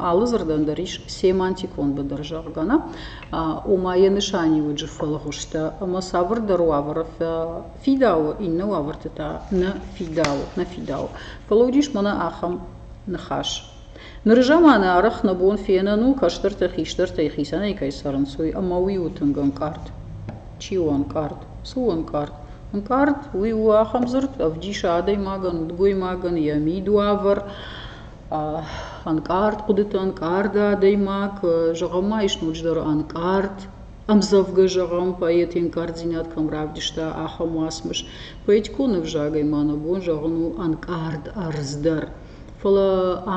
алы дзырдӕн дӕр ис семантикон быдыр, зӕгъгӕ нӕ? Ома йӕ нысаниуӕджы фӕлгъуызтӕ ӕмӕ цавӕрдӕр уавӕры фӕфидауы, иннӕ уавӕрты та нӕ фидауы, нӕ фидауы. Фӕлӕ уыдис мӕнӕ ахӕм ныхас: Ныры заманы арӕх нӕ бон фенӕн у, кӕстӕртӕ хистӕртӕй хицӕнӕй кӕй сӕрынцой, ӕмӕ уый у тынг ӕнкъард. Чи у ӕнкъард? Цы у ӕнкъард? Ӕнкъард уый у ахӕм дзырд, ӕвдисы адӕймагӕн, удгоймагӕн йӕ мидуавӕр. Ӕнкъард хъуыдыты ӕнкъарды адӕймаг, зӕгъӕм ма ис ноджыдӕр ӕнкъард, ӕмдзӕвгӕ зӕгъӕм, поэты ӕнкъарддзинад кӕм равдыста, ахӕм уацмыс. Поэтикон ӕвзагӕй ма нӕ бон зӕгъын у ӕнкъард ӕрдз дӕр. Фӕлӕ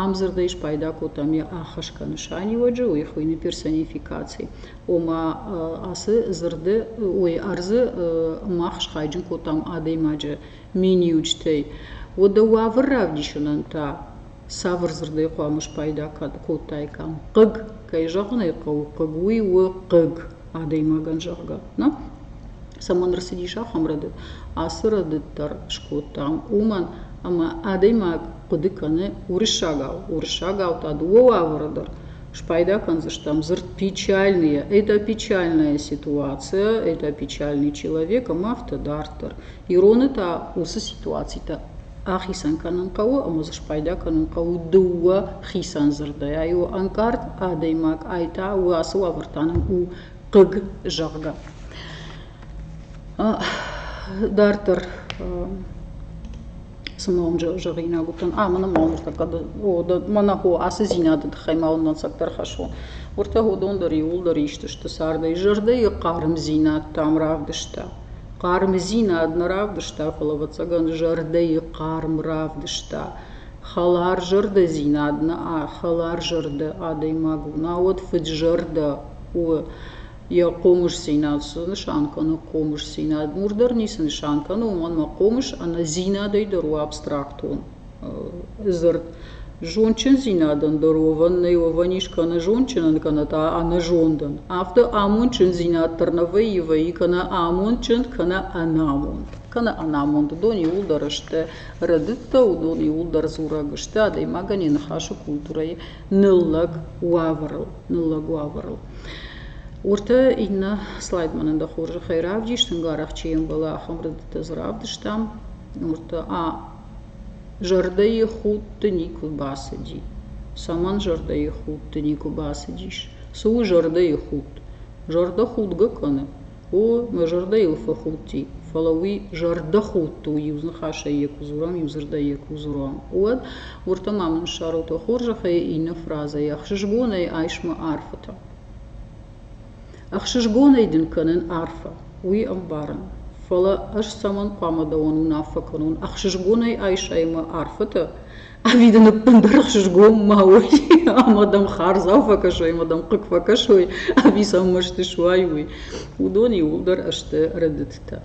ам дзырдӕй спайда кодтам йӕ ӕххӕсгӕ нысаниуӕджы, уый хуыйны персонификаци. Ома ацы дзырды, ой, ӕрдзы мах схайджын кодтам адӕймаджы миниуджытӕй. Уӕдӕ уавӕр равдисынӕн та цавӕр дзырдӕй хъуамӕ спайда кодтаикам? Хъыг. Кӕй зӕгъын ӕй хъӕуы, хъыг уый у хъыг. адӕймагӕн, зӕгъгӕ, нӕ цӕмӕн ӕрцыдис ахӕм рӕдыд, ацы рӕдыд дӕр скодтам, уымӕн ӕмӕ адӕймаг хъуыды кӕны уырыссагау. Уырыссагау та дыууӕ уавӕры дӕр спайда кӕндзыстӕм. Дзырд печальные – это печальная ситуация, это печальный человек, ӕмӕ афтӕ дарддӕр. Ироны та уыцы ситуацитӕ ахицӕн кӕнын хъӕуы ӕмӕ дзы спайда кӕнын хъӕуы дыууӕ хицӕн дзырдӕй. У ӕнкъард адӕймаг, ай та ацы уавӕр та нын у хъыг, зӕгъгӕ. Дарддӕр цымӕ уым зӕгъинаг уыдтӕн, а мӕнӕ ма уыртӕ хъӕды, о, мӕнӕ хо, ацы дзинады тыххӕй ма уын дӕнцӕгдӕр хӕссон. Уыртӕ уыдон дӕр иууылдӕр исты сты цардӕй, зӕрдӕйы хъармдзинад тӕм равдыста. Хъармдзинад нӕ равдыста, фӕлӕ, ӕвӕццӕгӕн, зӕрдӕйы хъарм равдыста. Хӕларзӕрдӕдзинад нӕ хӕларзӕрдӕ адӕймаг у, науӕд фыдзӕрдӕ у. Йӕ хъомысдзинад цы нысан кӕны? Хъомысдзинад нур дӕр ницы нысан кӕны, уымӕн ӕмӕ хъомыс ӕнӕ зинадӕй дӕр у абстрактон. дзырд зондчындзинадӕн дӕр уовӕн нӕй, уовӕн ис кенӕ зондджынӕн, кенӕ та ӕнӕзондӕн. Афтӕ амондчындзинад дӕр нӕ вӕййи, вӕййи кенӕ амондджынд, кенӕ ӕнамонд. Кенӕ ӕнамонд уыдон иууылдӕр сты рӕдыдтӕ, уыдон иууылдӕр дзурӕг сты адӕймагӕн йӕ ныхасы культурӕйы ныллӕг уавӕрыл, ныллӕг уавӕрыл. Уыртӕ иннӕ слайд мӕнӕн дӕ хорзӕхӕй равдис, тынг арӕх чи ӕмбӕлы, ахӕм рӕдыдтӕ дзы равдыстам. Уыртӕ а Зӕрдӕйы худты никуы бацыди. Цӕмӕн зӕрдӕйы худты никуы бацыдис? Цы у зӕрдӕйы худт? Зӕрдӕ худгӕ кӕны? О, мӕ зӕрдӕ йыл фӕхудти, фӕлӕ уый зӕрдӕхудт у, иу ныхасӕй йӕ куы дзурӕм, иу дзырдӕй йӕ куы дзурӕм, уӕд уырдӕм ама ныссарут ӕ хорзӕхӕй иннӕ фразӕйы, ӕхсызгонӕй айс мӕ арфӕтӕ. ӕхсызгонӕй дын кӕнын арфӕ уый ӕмбарын фӕлӕ ӕз цӕмӕн хъуамӕ дӕуӕн уынаффӕ кӕнон ӕхсызгонӕй айсай мӕ арфӕтӕ ӕви дын ӕппындӕр ӕхсызгон ма уой ӕмӕ дӕм хардзау фӕкӕсой ӕмӕ дӕм хъыг фӕкӕсой ӕви сӕм мӕсты суай уый уыдон иууылдӕр сты рӕдыдтӕ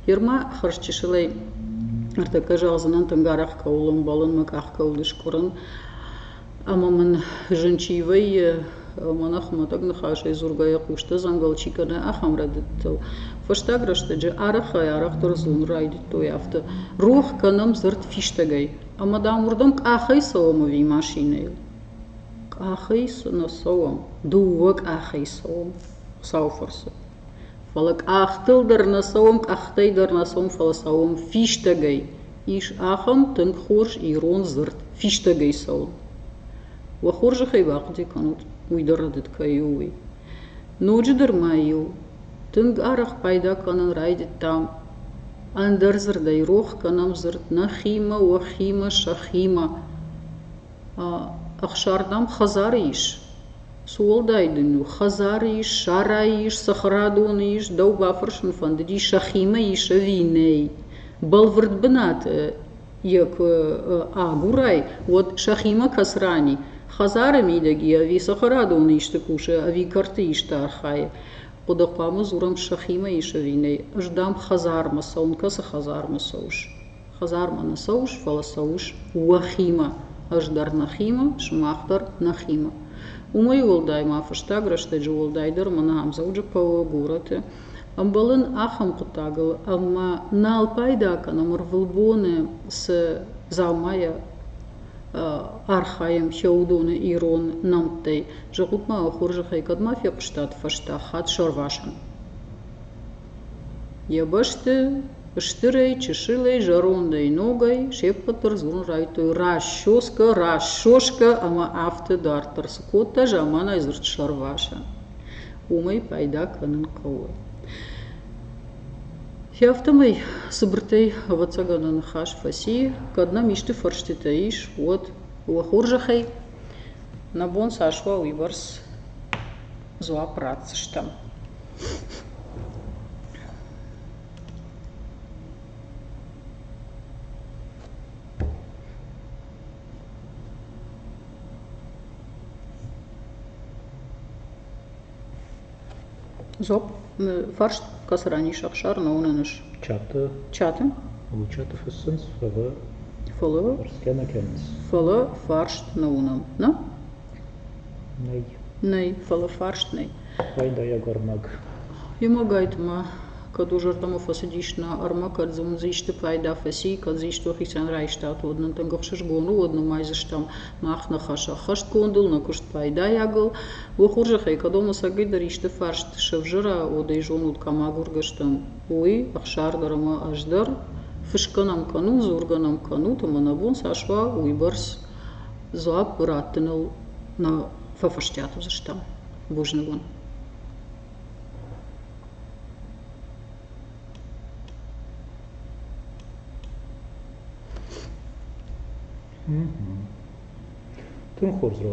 герма хӕрзчысылӕй ӕртӕккӕ зӕгъдзынӕн тынг арӕх кӕуыл ӕмбӕлын мӕ къах кӕуыл ыскъуырын Ӕмӕ мын зын чи вӕййы, мӕнӕ хуымӕтӕг ныхасӕй дзургӕйӕ хъустӕ дзӕнгӕл чи кӕны, ахӕм рӕдыдтыл. Фӕстаг рӕстӕджы арӕхӕй-арӕхдӕр зылын райдыдтой афтӕ: рох кӕнӕм дзырд фистӕгӕй. Ӕмӕ, дам, уырдӕм къахӕй цӕуӕм ӕви машинӕйыл? Къахӕй цы нӕ цӕуӕм. Дыууӕ къахӕй цӕуӕм. Хуыцауы фӕрцы. Фӕлӕ къӕхтыл дӕр нӕ цӕуӕм, къӕхтӕй дӕр нӕ цӕуӕм, фӕлӕ цӕуӕм фистӕгӕй. Ис ахӕм тынг хорз ирон дзырд – фистӕгӕй цӕуын. Уӕ хорзӕхӕй бахъуыди кӕнут, уый дӕр рӕдыд кӕй у, уый. Ноджыдӕр ма-иу тынг арӕх пайда кӕнын райдыдтам ӕндӕр дзырдӕй, рох кӕнӕм дзырд нӕхимӕ, уӕхимӕ, сӕхимӕ. Ӕхсӕрдӕм хӕдзары ис. Цы уӕлдай дын у? Хӕдзары ис, сарайы ис, цӕхӕрадоны ис, дӕу бафӕрсын фӕндыди, сӕхимӕ ис ӕви нӕй. Бӕлвырд бынаты йӕ куы агурай, уӕд сӕхимӕ кӕс рани. Хӕдзары мидӕг и ӕви цӕхӕрадоны исты кусы, ӕви кӕрты исты архайы. Хъуыды хъуамӕ дзурӕм, сӕхимӕ ис ӕви нӕй. Ӕз дӕм хӕдзармӕ цӕуын, кӕцы хӕдзармӕ цӕуыс? Хӕдзармӕ нӕ цӕуыс, фӕлӕ цӕуыс уӕхимӕ, ӕз дӕр нӕхимӕ, сымах дӕр нӕхимӕ. Уымӕй уӕлдай ма фӕстаг рӕстӕджы уӕлдайдӕр мӕнӕ Ӕмдзӕуджыхъӕуы горӕты ӕмбӕлын ахӕм хъуыддагыл, ӕмӕ нал пайда кӕнӕм ӕрвылбоны цы дзаумайӕ архайӕм фӕуыдоны ирон нӕмттӕй. Зӕгъут-ма, хорзӕхӕй, кӕд ма фехъуыстат фӕстаг хатт сӕрвасӕн? Йӕ бӕсты Стырӕй, чысылӕй, зӕрондӕй, ногӕй се ппӕт дӕр дзурын райдыдтой расчёскӕ, расшёскӕ ӕмӕ афтӕ дарддӕр цы кодта заманайы дзырд сӕрвасӕн. Уымӕй пайда кӕнын хъӕуы. Хи афтӕмӕй цыбыртӕй, ӕвӕццӕгӕн, ныхас фӕци, кӕд нӕм исты фӕрстытӕ ис, уӕд уӕ хорзӕхӕй нӕ бон цас уа, уыйбӕрц дзуапп ратдзыстӕм. Зоп, фарст, кӕцы ранис ӕхсар ноуны ныс? Чаты. Чаты? Лучаты фыссынц, фӕлӕ... Фӕлӕ? Фӕрсгӕ нӕ кӕнынц. Фӕлӕ фарст ноуынам. Нӕ? Нӕй. Нӕй, фӕлӕ фарст нӕй. Пайдайаг ӕрмӕг. Йемӕгӕйтмӕ, кӕд уӕ зӕрдӕмӕ фӕцыдис нӕ ӕрмӕг, кӕд дзы уыдзы исты пайда фӕци, кӕд дзы исты хицӕн райстат, уӕд нын тынг ӕхсызгон у, уӕд нымайдзыстӕм мах ныхас ӕххӕстгондыл, нӕ куыст пайдайагыл. Уӕ хорзӕхӕй, кӕд ӕм ӕцӕгӕйдӕр исты фарст сӕвзӕра, уӕд ӕй зонут, кӕм агургӕ стӕм, уый, ӕхсар дӕр ӕмӕ ӕз дӕр. Фысгӕ нӕм кӕнут, дзургӕ нӕм кӕнут, ӕмӕ нӕ бон цас уа, уыйбӕрц дзуапп раттыныл нӕ фӕфӕстиат уыдзыстӕм бузнывон тынг хорз